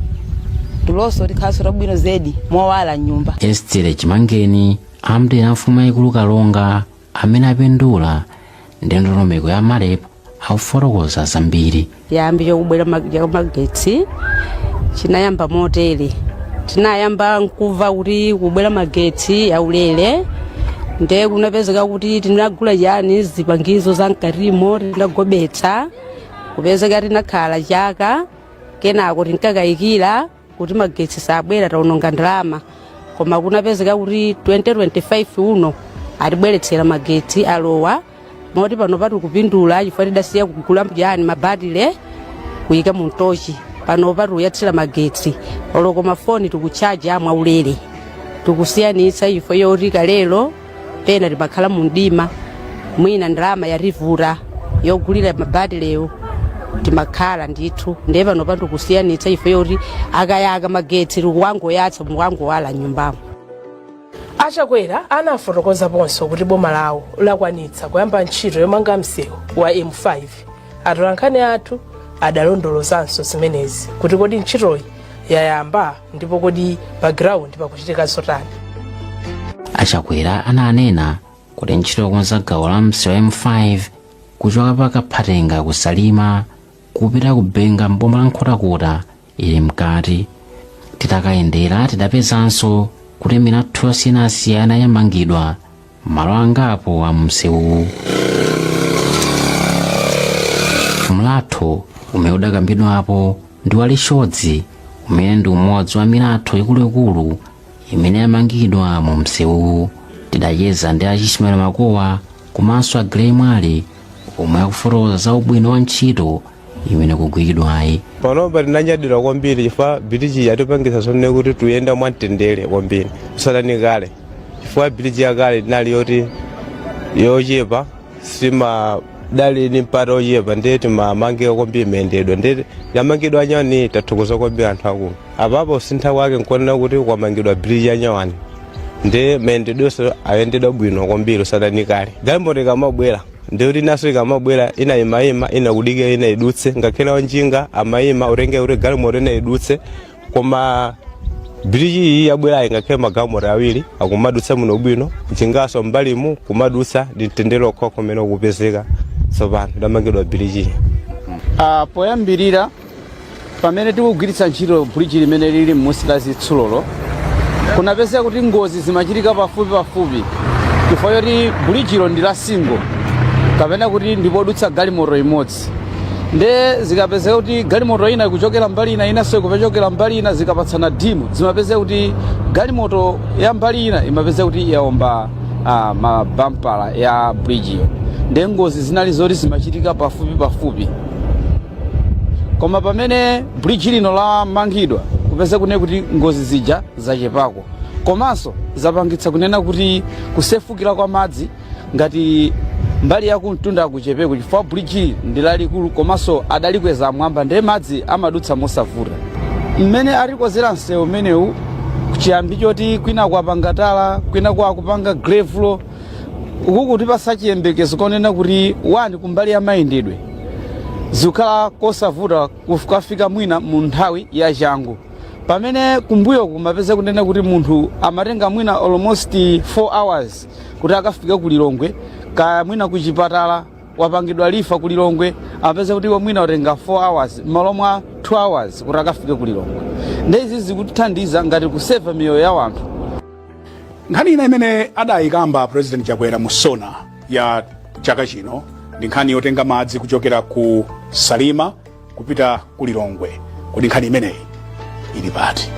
tulonso tikukhalanso tabwino zedi mowala mnyumba Estere Chimangeni a m'dera la mfumu yayikulu Kalonga amene apindula ndi ndondomeko ya marep akufotokoza zambiri chiyambi chokubwera mag- cha magetsi chinayamba motere tinayamba nkumva kuti kubwera magetsi aulere nde kunapezeka kuti tinagula chani zipangizo za mkatimo tinagobetsa kupezeka tinakhala chaka kenako tinkakayikira kuti magetsi sabwera taononga ndalama koma kunapezeka kuti 2025 uno atibweretsera magetsi alowa moti panopa tikupindula chifukwa tidasiya kugula mjani mabatile kuyika mu mtochi panopa tikuyatsira magetsi olonso mafoni tikuchaja mwaulere tikusiyanitsa chifukwa choti kalelo pena timakhala mu mdima mwina ndalama yativuta yogulira mabatilewo timakhala ndithu ndiye panopa tikusiyanitsa chifukwa choti akayaka magetsi tikumangoyatsa mukungowala m'nyumbamo a Chakwera anafotokozaponso kuti boma lawo lakwanitsa kuyamba ntchito yomanga msewu wa m5 atolankhani athu adalondolozanso zimenezi kuti kodi ntchitoyi yayamba ndipo kodi pa ground pakuchitika zotani a Chakwera ananena kuti ntchito yokonza gawo la msewu wa m5 kuchoka pa kaphatenga ku Salima kupita ku benga m'boma la nkhotakota ili mkati titakayendera tidapezanso kuti milatho yosiyanasiyana yamangidwa malo angapo a msewuwu mlatho umene udakambidwapo ndi wa lifyodzi umene ndi umodzi wa milatho ikuluikulu imene yamangidwa mu msewuwu tidacheza ndi a Ismail makowa komanso a Grey Mwale omwe akufotokoza za ubwino wa ntchito imene ikugwiridwayi panopa tinanyadira kwambiri chifukwa biliji yatipangisa zonena kuti tikuyenda mwamtendere kwambiri kusiyana ndi kale chifukwa biliji yakale inali yoti yochepa siidali ni mpata ochepa ndiye timapanikizika kwambiri mayendedwe ndiye yamangidwa yanyuwaniyi tathokoza kwambiri anthu akulu apapa kusintha kwake nkuonera kuti kwamangidwa biliji yanyuwani ndiye mayendedwenso ayendedwa bwino kwambiri kusiyana ndi kale galimoto ikamabwera ndiye kuti inanso ikamabwera ina imayima ina kudikira ina idutse ngakhale wanjinga amayima kutenga kuti galimoto ina idutse koma biriji iyi yabwerayi ngakhale magalimoto awiri akumadutsa bwinobwino njinganso mbalimu kumadutsa ndi mtendere okhaokha umene ukupezeka tsopano itamangidwa biriji iyi Ah, poyambirira Pamene tikugwiritsa ntchito bridge limene lili m'munsi la zitsulolo, kunapezeka kuti ngozi zimachitika pafupi pafupi chifukwa choti bridge-lo ndi la single kapena kuti ndi podutsa galimoto imodzi. Nde zikapezeka kuti galimoto ina ikuchokera mbali ina inanso ikupechokera mbali ina zikapatsana dimu, zimapezeka kuti galimoto ya mbali ina imapezeka kuti yaomba ah, mabampala ya bridge-yo. Nde ngozi zinali zoti zimachitika pafupi pafupi. koma pamene bridge lino lamangidwa kupeza kune kuti ngozi zija zachepako komanso zapangitsa kunena kuti kusefukira kwa madzi ngati mbali yakumtunda kuchepeko chifukwa bridge ndi lalikulu komanso adalikweza amwamba ndiye madzi amadutsa mosavuta mmene atikozera msewu umenewu chiyambi choti kwina kwapanga tala kwina akupanga gravel ukukutipatsa chiyembekezo konena kuti wani kumbali ya mayendedwe zizikhala kosavuta kukafika mwina mu nthawi ya changu pamene kumbuyo kumapeza kunena kuti munthu amatenga mwina almost 4 hours kuti akafike ku lilongwe kaya mwina ku chipatala wapangidwa refer ku lilongwe amapeza kuti iwo mwina watenga 4 hours m'malo mwa 2 hours kuti akafike ku lilongwe ndiye izi zikutithandiza ngati kuseva miyoyo ya wanthu nkhani ina imene adayikamba president chakwera mu sona ya chaka chino ndi nkhani yotenga madzi kuchokera ku salima kupita ku lilongwe kodi nkhani imeneyi ili pati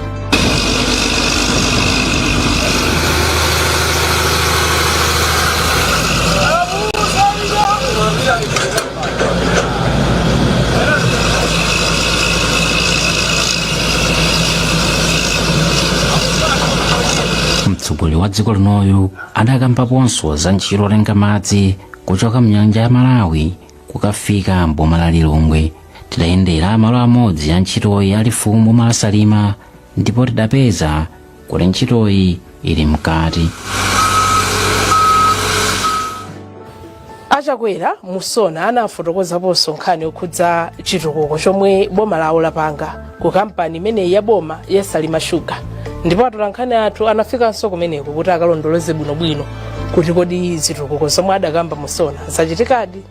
mtsogoleri wa dziko linoyu adakambaponso za ntchito yotenga madzi kuchoka mnyanja ya malawi kukafika mboma la lilongwe tidayendera malo amodzi a ntchitoyi a lifuwu m'boma la salima ndipo tidapeza kuti ntchitoyi ili mkati A Chakwera mu sona anafotokozaponso nkhani yokhudza chitukuko chomwe boma lawo lapanga ku kampani imeneyi ya boma ya Salima Sugar ndipo atolankhani athu anafikanso kumeneko kuti akalondoloze bwinobwino kuti kodi zitukuko zomwe adakamba mu sona zachitikadi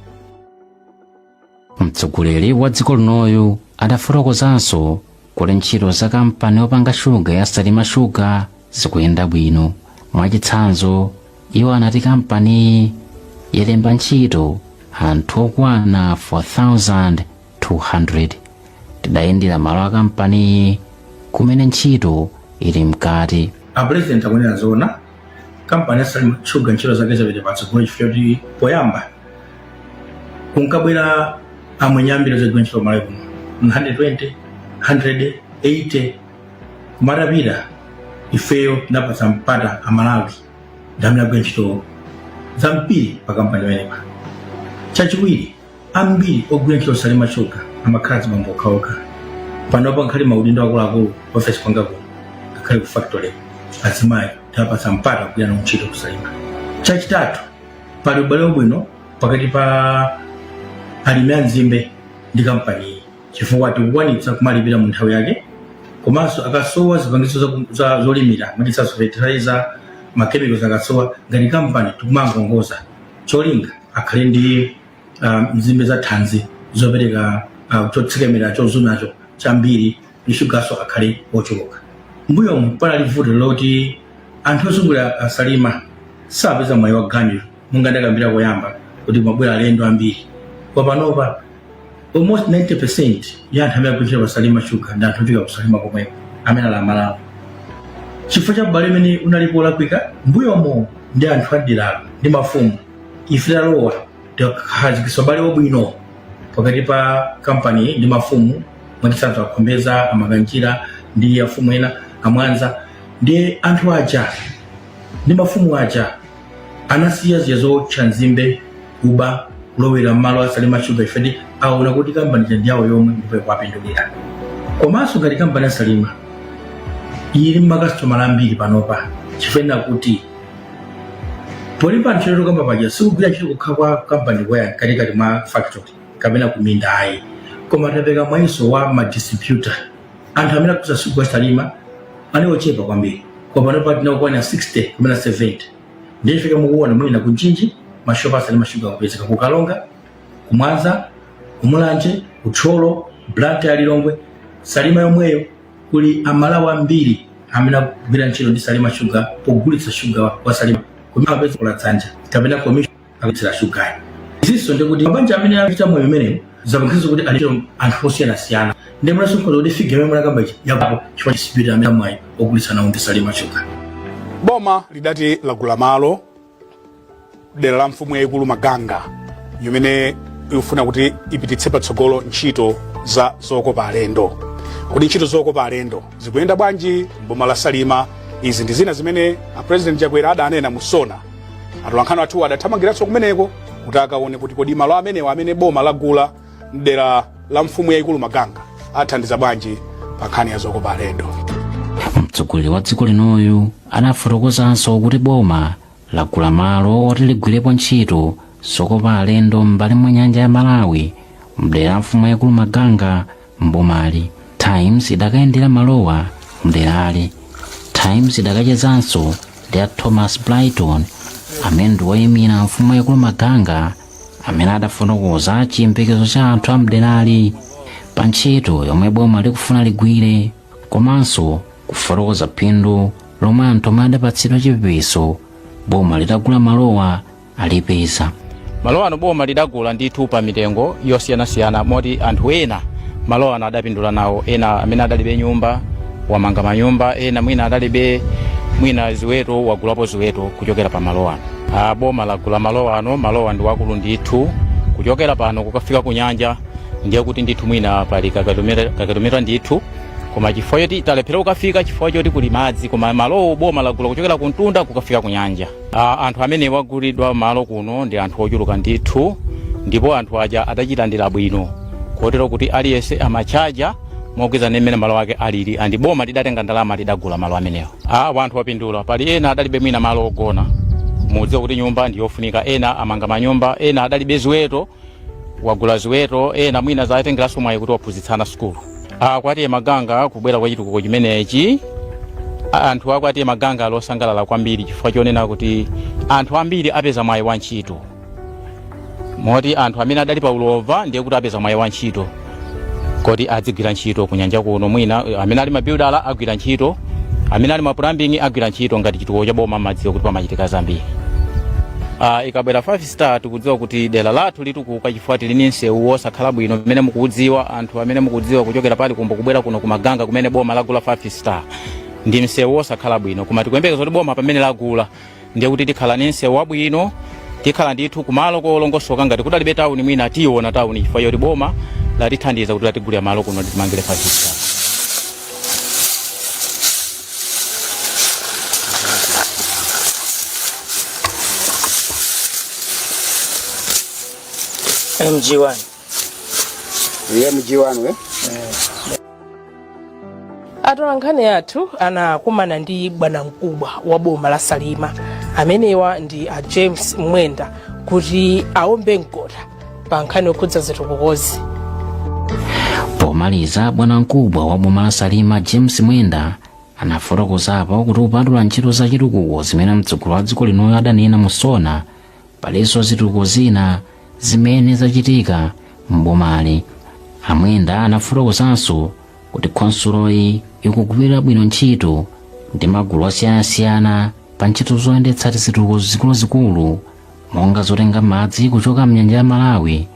mtsogoleri wa dziko linoyu adafotokozanso kuti ntchito za kampani yopanga shuga ya salima sugar zikuyenda bwino mwachitsanzo iwo anati kampaniyi yalemba ntchito anthu okwana 4200 tidayendera malo a kampaniyi kumene ntchito ili mkati a president akunena zoona kampani ya salima sugar ntchito zake zapita patsogolo chifukwa kuti poyamba kunkabwera amwenye ambiri ozagwira ntchito malawi kuno 120 180 koma titafika ifeyo tinapatsa mpata amalawi ndamene agwira ntchito zambiri pa kampani imenepa chachiwiri ambiri ogwira ntchito ku salima shuga amakhala azibambo okhaokha panopa ngakhale maudindo akuluakulu ofesi yanga kuno ngakhale ku factory azimayi tawapatsa mpata kugwira nawo ntchito kusalima chachitatu pali ubale wabwino pakati pa alimi a nzimbe ndi kampaniyi chifukwa tikukwanitsa kuwalipira mu nthawi yake komanso akasowa zipangizo za- za- zolimira mwachitsanzo fertilizer makemikozi akasowa ngati kampani tikuwangongoza cholinga akhale ndi ah, nzimbe za thanzi zopereka ah, chotsekemera chozunacho chambiri ndi shugaso akhale ochuluka mbuyomu panali vuto loti anthu ozungulira asalima samapeza mwayi wa ganyu monga ndakambira koyamba kuti amabwera alendo ambiri koma panopa almost 90% ya anthu amene akugwira pasalima shuga ndi anthu ochokera kusalima komweko amene ali amalawi chifukwa cha ubale umene unalipo olakwika mbuyomo ndi anthu aderalo ndi mafumu ife talowa takhazikitsa ubale wabwino pakati pa kampani ndi mafumu mwachitsanzo akhombeza a makanjira ndi afumu ena a mwanza ndi anthu aja ndi mafumu aja anasiya zija zowotcha nzimbe kuba kulowera mmalo asalima shuga chifukwa aona kuti kampani ija ndiyawo yomwe ndipo ikuwapindulira komanso ngati kampani asalima ili ndi makasitomala ambiri panopa chifukwa choti polemba ntchito tokamba paja sikugwira ntchito kokha kwa kampani kaya katikati mwa factory kapena kuminda ayi koma tapereka mwayiso wa madistributor anthu amene akugulitsa shuga wa salima anali ochepa kwambiri koma panopa tikukwana 60 kapena 70 ndiye chifukwa mukuona mwina ku mchinji mashopu a salima shuga akupezeka ku karonga ku mwanza ku mulanje ku thyolo blantyre lilongwe salima yomweyo kuli amalawi ambiri amene akugwira ntchito ndi salima shuga pogulitsa shuga wa salima kumene amapeza cholowa dzanja kapena commission akugulitsa shugayo izinso ndikuti mabanja amene akuchita moyo umenewu zapangitsa kuti alichita anthu osiyanasiyana ndi mulaso mkhoza kuti figure yomwe munakamba ichi yapapo chifukwa chisipiriti amene a mwayi ogulitsa nawo ndisalima shugayo boma lidati lagula malo dera la mfumu yayikulu maganga imene ikufuna kuti ipititse patsogolo ntchito za zokopa alendo kodi ntchito zokopa alendo zikuyenda bwanji m'boma la salima izi ndi zina zimene a president chakwera adanena mu sona atolankhani athu adathamangiranso kumeneko kuti akaone kuti kodi malo amenewa amene boma lagula mdera la mfumu yayikulu maganga athandiza bwanji pa nkhani ya zokopa alendo mtsogoleri wa dziko linoyu anafotokozanso kuti boma lagula malo oti ligwirepo ntchito zokopa alendo m'mbali mwa nyanja ya malawi mdera la mfumu yayikulu maganga m'bomali times idakayendera malowa mderali times idakachezanso ndi a thomas brighton amene ndi woyimira mfumu yaikulu maganga amene adafotokoza chiyembekezo cha anthu a mderali pa ntchito yomwe boma likufuna ligwire komanso kufotokoza phindu lomwe anthu omwe adapatsidwa chipepeso boma litagula malowa alipeza malo ano boma lidagula ndithu pa mitengo yosiyanasiyana moti anthu ena malo ano adapindula nawo ena amene adalibe nyumba wamanga manyumba ena mwina adalibe mwina ziweto wagulapo ziweto kuchokera pa malo ano Ah, boma lagula malo ano malowa ndi wakulu ndithu kuchokera pano kukafika ku nyanja ndiye kuti ndithu mwina pali kamtunda kamtunda ndithu koma chifukwa choti talephera kukafika chifukwa choti kuli madzi koma malowo boma lagula kuchokera ku mtunda kukafika ku nyanja A, anthu amene wagulidwa malo kuno ndi anthu ochuluka ndithu ndipo anthu aja adachilandira bwino kotero kuti aliyense amatchaja mogwirizana ndi mmene malo ake alili andi boma lidatenga ndalama lidagula malo amenewo anthu opindula pali ena adalibe mwina malo ogona mudziwa kuti nyumba ndi yofunika ena amanga manyumba ena adalibe ziweto wagula ziweto ena mwina zatengeranso mwayi kuti waphunzitsa ana sukulu a kwa t/a maganga kubwera kwa chitukuko chimenechi anthu a kwa t/a maganga ali osangalala kwambiri chifukwa chonena kuti anthu ambiri apeza mwayi wa ntchito moti anthu amene adali pa ulova ndiye kuti apeza mwayi wa ntchito kuti adzigwira ntchito kunyanja kuno mwina eh, amene ali mabuilder agwira ntchito amene ali ma plumbing agwira ntchito ngati chitukuko cha boma amadziwa kuti pamachitika zambiri Ah, ikabwera 5 star tikudziwa kuti dera lathu litukuka chifukwa tili ni msewu wosakhala bwino mmene mukuudziwa anthu amene mukudziwa kuchokera pa lifuwu kubwera kuno kumaganga kumene boma lagula 5 star ndi msewu wosakhala bwino koma tikuyembekeza kuti boma pamene lagula ndiye kuti tikhala ni msewu wabwino tikhala ndithu kumalo kolongosoka ngati kudalibe tawuni mwina tiyiona tawuni chifukwa choti boma latithandiza kuti latigulira malo kuno titimangire 5 star MG1. Iye mji wanu eh? atolankhani athu anakumana ndi bwanamkubwa wa boma la salima amenewa ndi a james mwenda kuti aombe mkota pa nkhani yokhudza zitukukozi pomaliza bwanamkubwa wa boma la salima james mwenda anafotokozapo kuti kupatula ntchito za chitukuko zimene mtsogoleri wa dziko linoyu adanena mu sona palinso zitukuko zina zimene zachitika m'bomali a mwenda anafotokozanso kuti khonsuloyi ikugwira bwino ntchito ndi magulu osiyanasiyana pa ntchito zoyendetsa tizitukuko zikuluzikulu monga zotenga madzi kuchoka mnyanja ya malawi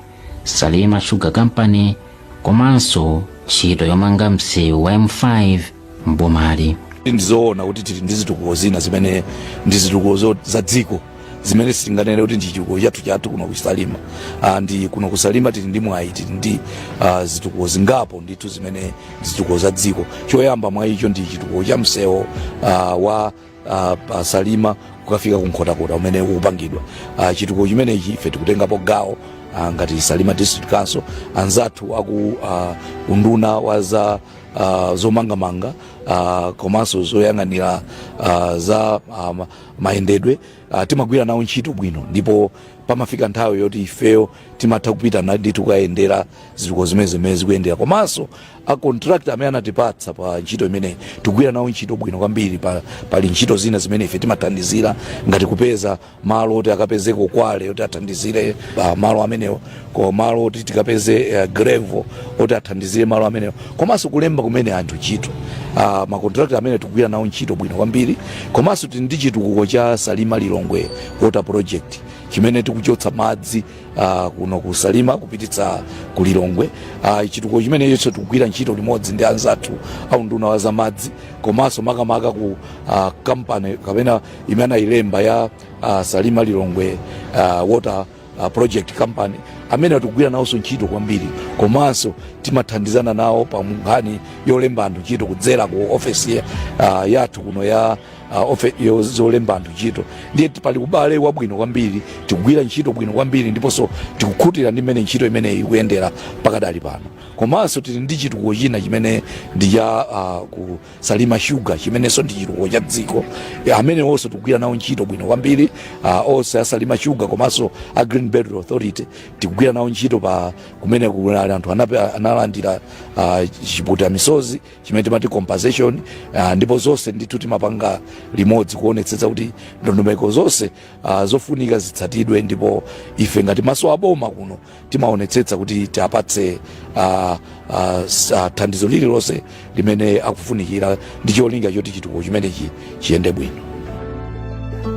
salima sugar company komanso ntchito yomanga msewu wa m5 mbomali ndizoona kuti tili ndi zitukuko zina zimene ndi zitukuko zo- za dziko zimene sitinganene kuti ndi chitukuko chathu chathu kuno kusalima Ah, ndi kuno kusalima tili ndi mwayi tili ndi ah, zitukuko zingapo ndithu zimene ndi zitukuko za dziko choyamba mwa icho ndi chitukuko cha msewu ah, wa uh, wa salima kukafika ku nkhotakota umene ukupangidwa uh, chitukuko chimenechi ife tikutengapo gawo uh, ngati salima district council anzathu aku uh, unduna wa za uh, zomangamanga uh, komanso zoyang'anira uh, za um, mayendedwe uh, timagwira nawo ntchito bwino ndipo pamafika nthawi yoti ifeyo timatha kupita ndithu kukayendera zitukuko zimene zimene zikuyendera komanso a contractor amene anatipatsa pa ntchito imeneyi tikugwira nawo ntchito bwino kwambiri pa, pali ntchito zina zimene ife timathandizira ngati kupeza malo oti akapezeko kwale oti athandizire pa malo amenewo ko malo oti tikapeze uh, grevo oti athandizire malo amenewo komanso kulemba kumene anthu ntchito uh, makontrakta amene tikugwira nawo ntchito bwino kwambiri komanso tili ndi chitukuko cha salima lilongwe water project chimene tikuchotsa madzi uh, kuno ku salima kupititsa ku lilongwe uh, chitukuko chimenecho tikugwira ntchito limodzi ndi anzathu a unduna wa za madzi komanso makamaka ku uh, kampani kapena imene ayilemba ya uh, salima lilongwe uh, water uh, project company amene tikugwira nawonso ntchito kwambiri komanso timathandizana nawo pa nkhani yolemba anthu ntchito kudzera ku ofesi uh, yathu kuno ya uh, ofe- yo- zolemba anthu ntchito ndiye ti- pali ubale wabwino kwambiri tikugwira ntchito bwino kwambiri ndiponso tikukhutira ndi mmene ntchito imeneyi ikuyendera pakadali pano komanso tili ndi chitukuko china chimene ndi cha uh, ku salima shuga chimenenso ndi chitukuko cha dziko Eh, amenewonso tikugwira nawo ntchito bwino kwambiri ah, onse asalima shuga komanso a green belt authority tikugwira nawo ntchito pa kumene kunali anthu anape- analandira ah, chipukuta misozi chimene timati compensation ah, ndipo zonse ndithu timapanga limodzi kuonetsetsa kuti ndondomeko zonse ah, zofunika zitsatidwe ndipo ife ngati maso aboma kuno timaonetsetsa kuti tiapatse uh, uh, s- uh, thandizo lililonse limene akufunikira ndi cholinga choti chitukuko chimenechi chiyende bwino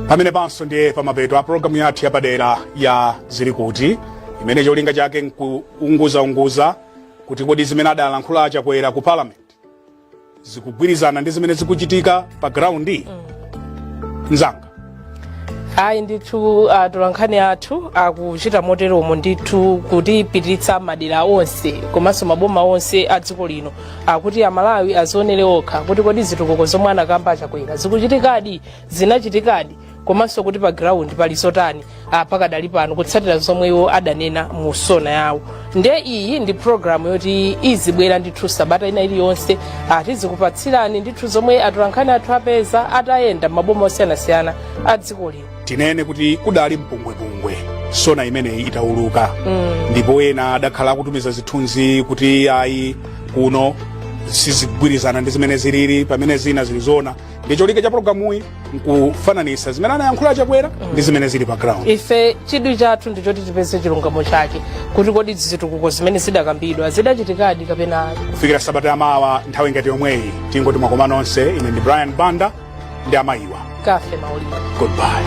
pamenepanso ndiye pamapeto a programu yathu yapadera ya zili kuti imene cholinga chake nkuunguzaunguza kuti kodi zimene adalankhula achakwera ku parliament zikugwirizana ndi zimene zikuchitika pa ground mzanga ayi ndithu atolankhani athu akuchita moteromo ndithu kutipititsa madera onse komanso maboma onse a dziko lino akuti amalawi azionere okha kuti kodi zitukuko zomwe anakamba achakwera zikuchitikadi zinachitikadi komanso kuti pa ground pali zotani ah, pakadali pano kutsatira zomwe iwo adanena mu sona yawo nde iyi ndi programu yoti izibwera ndithu sabata ina iliyonse ah, tizikupatsirani ndithu zomwe atolankhani athu apeza atayenda m'maboma osiyanasiyana a dziko lino tinene kuti kudali mpungwepungwe sona imeneyi itauluka ndipo ena adakhala akutumiza zithunzi kuti ayi kuno sizigwirizana ndi zimene zilili pamene zina zilizona ndi cholinga cha programuyi nkufananisa zimene anayankhula a chakwera ndi zimene zili pa ground ife chidwi chathu ndi choti tipeze chilungamo chake kuti kodi zitukuko zimene zidakambidwa zidachitikadi kapena ayi kufikira sabata yamawa nthawi ngati yomweyi tingoti mwakoma nonse ine ndi brian banda ndi amayiwa cathy maulidi goodbye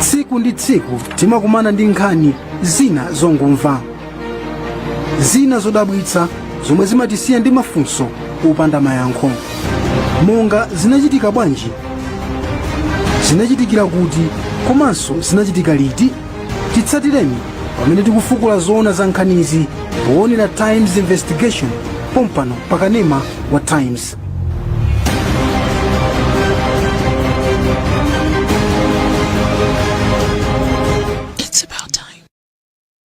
tsiku ndi tsiku timakumana ndi nkhani zina zongomva zina zodabwitsa zomwe zimatisiya ndi mafunso opanda mayankho monga zinachitika bwanji zinachitikira kuti komanso zinachitika liti titsatireni pamene tikufukula zoona za nkhanizi poonera times investigation pompano pakanema wa times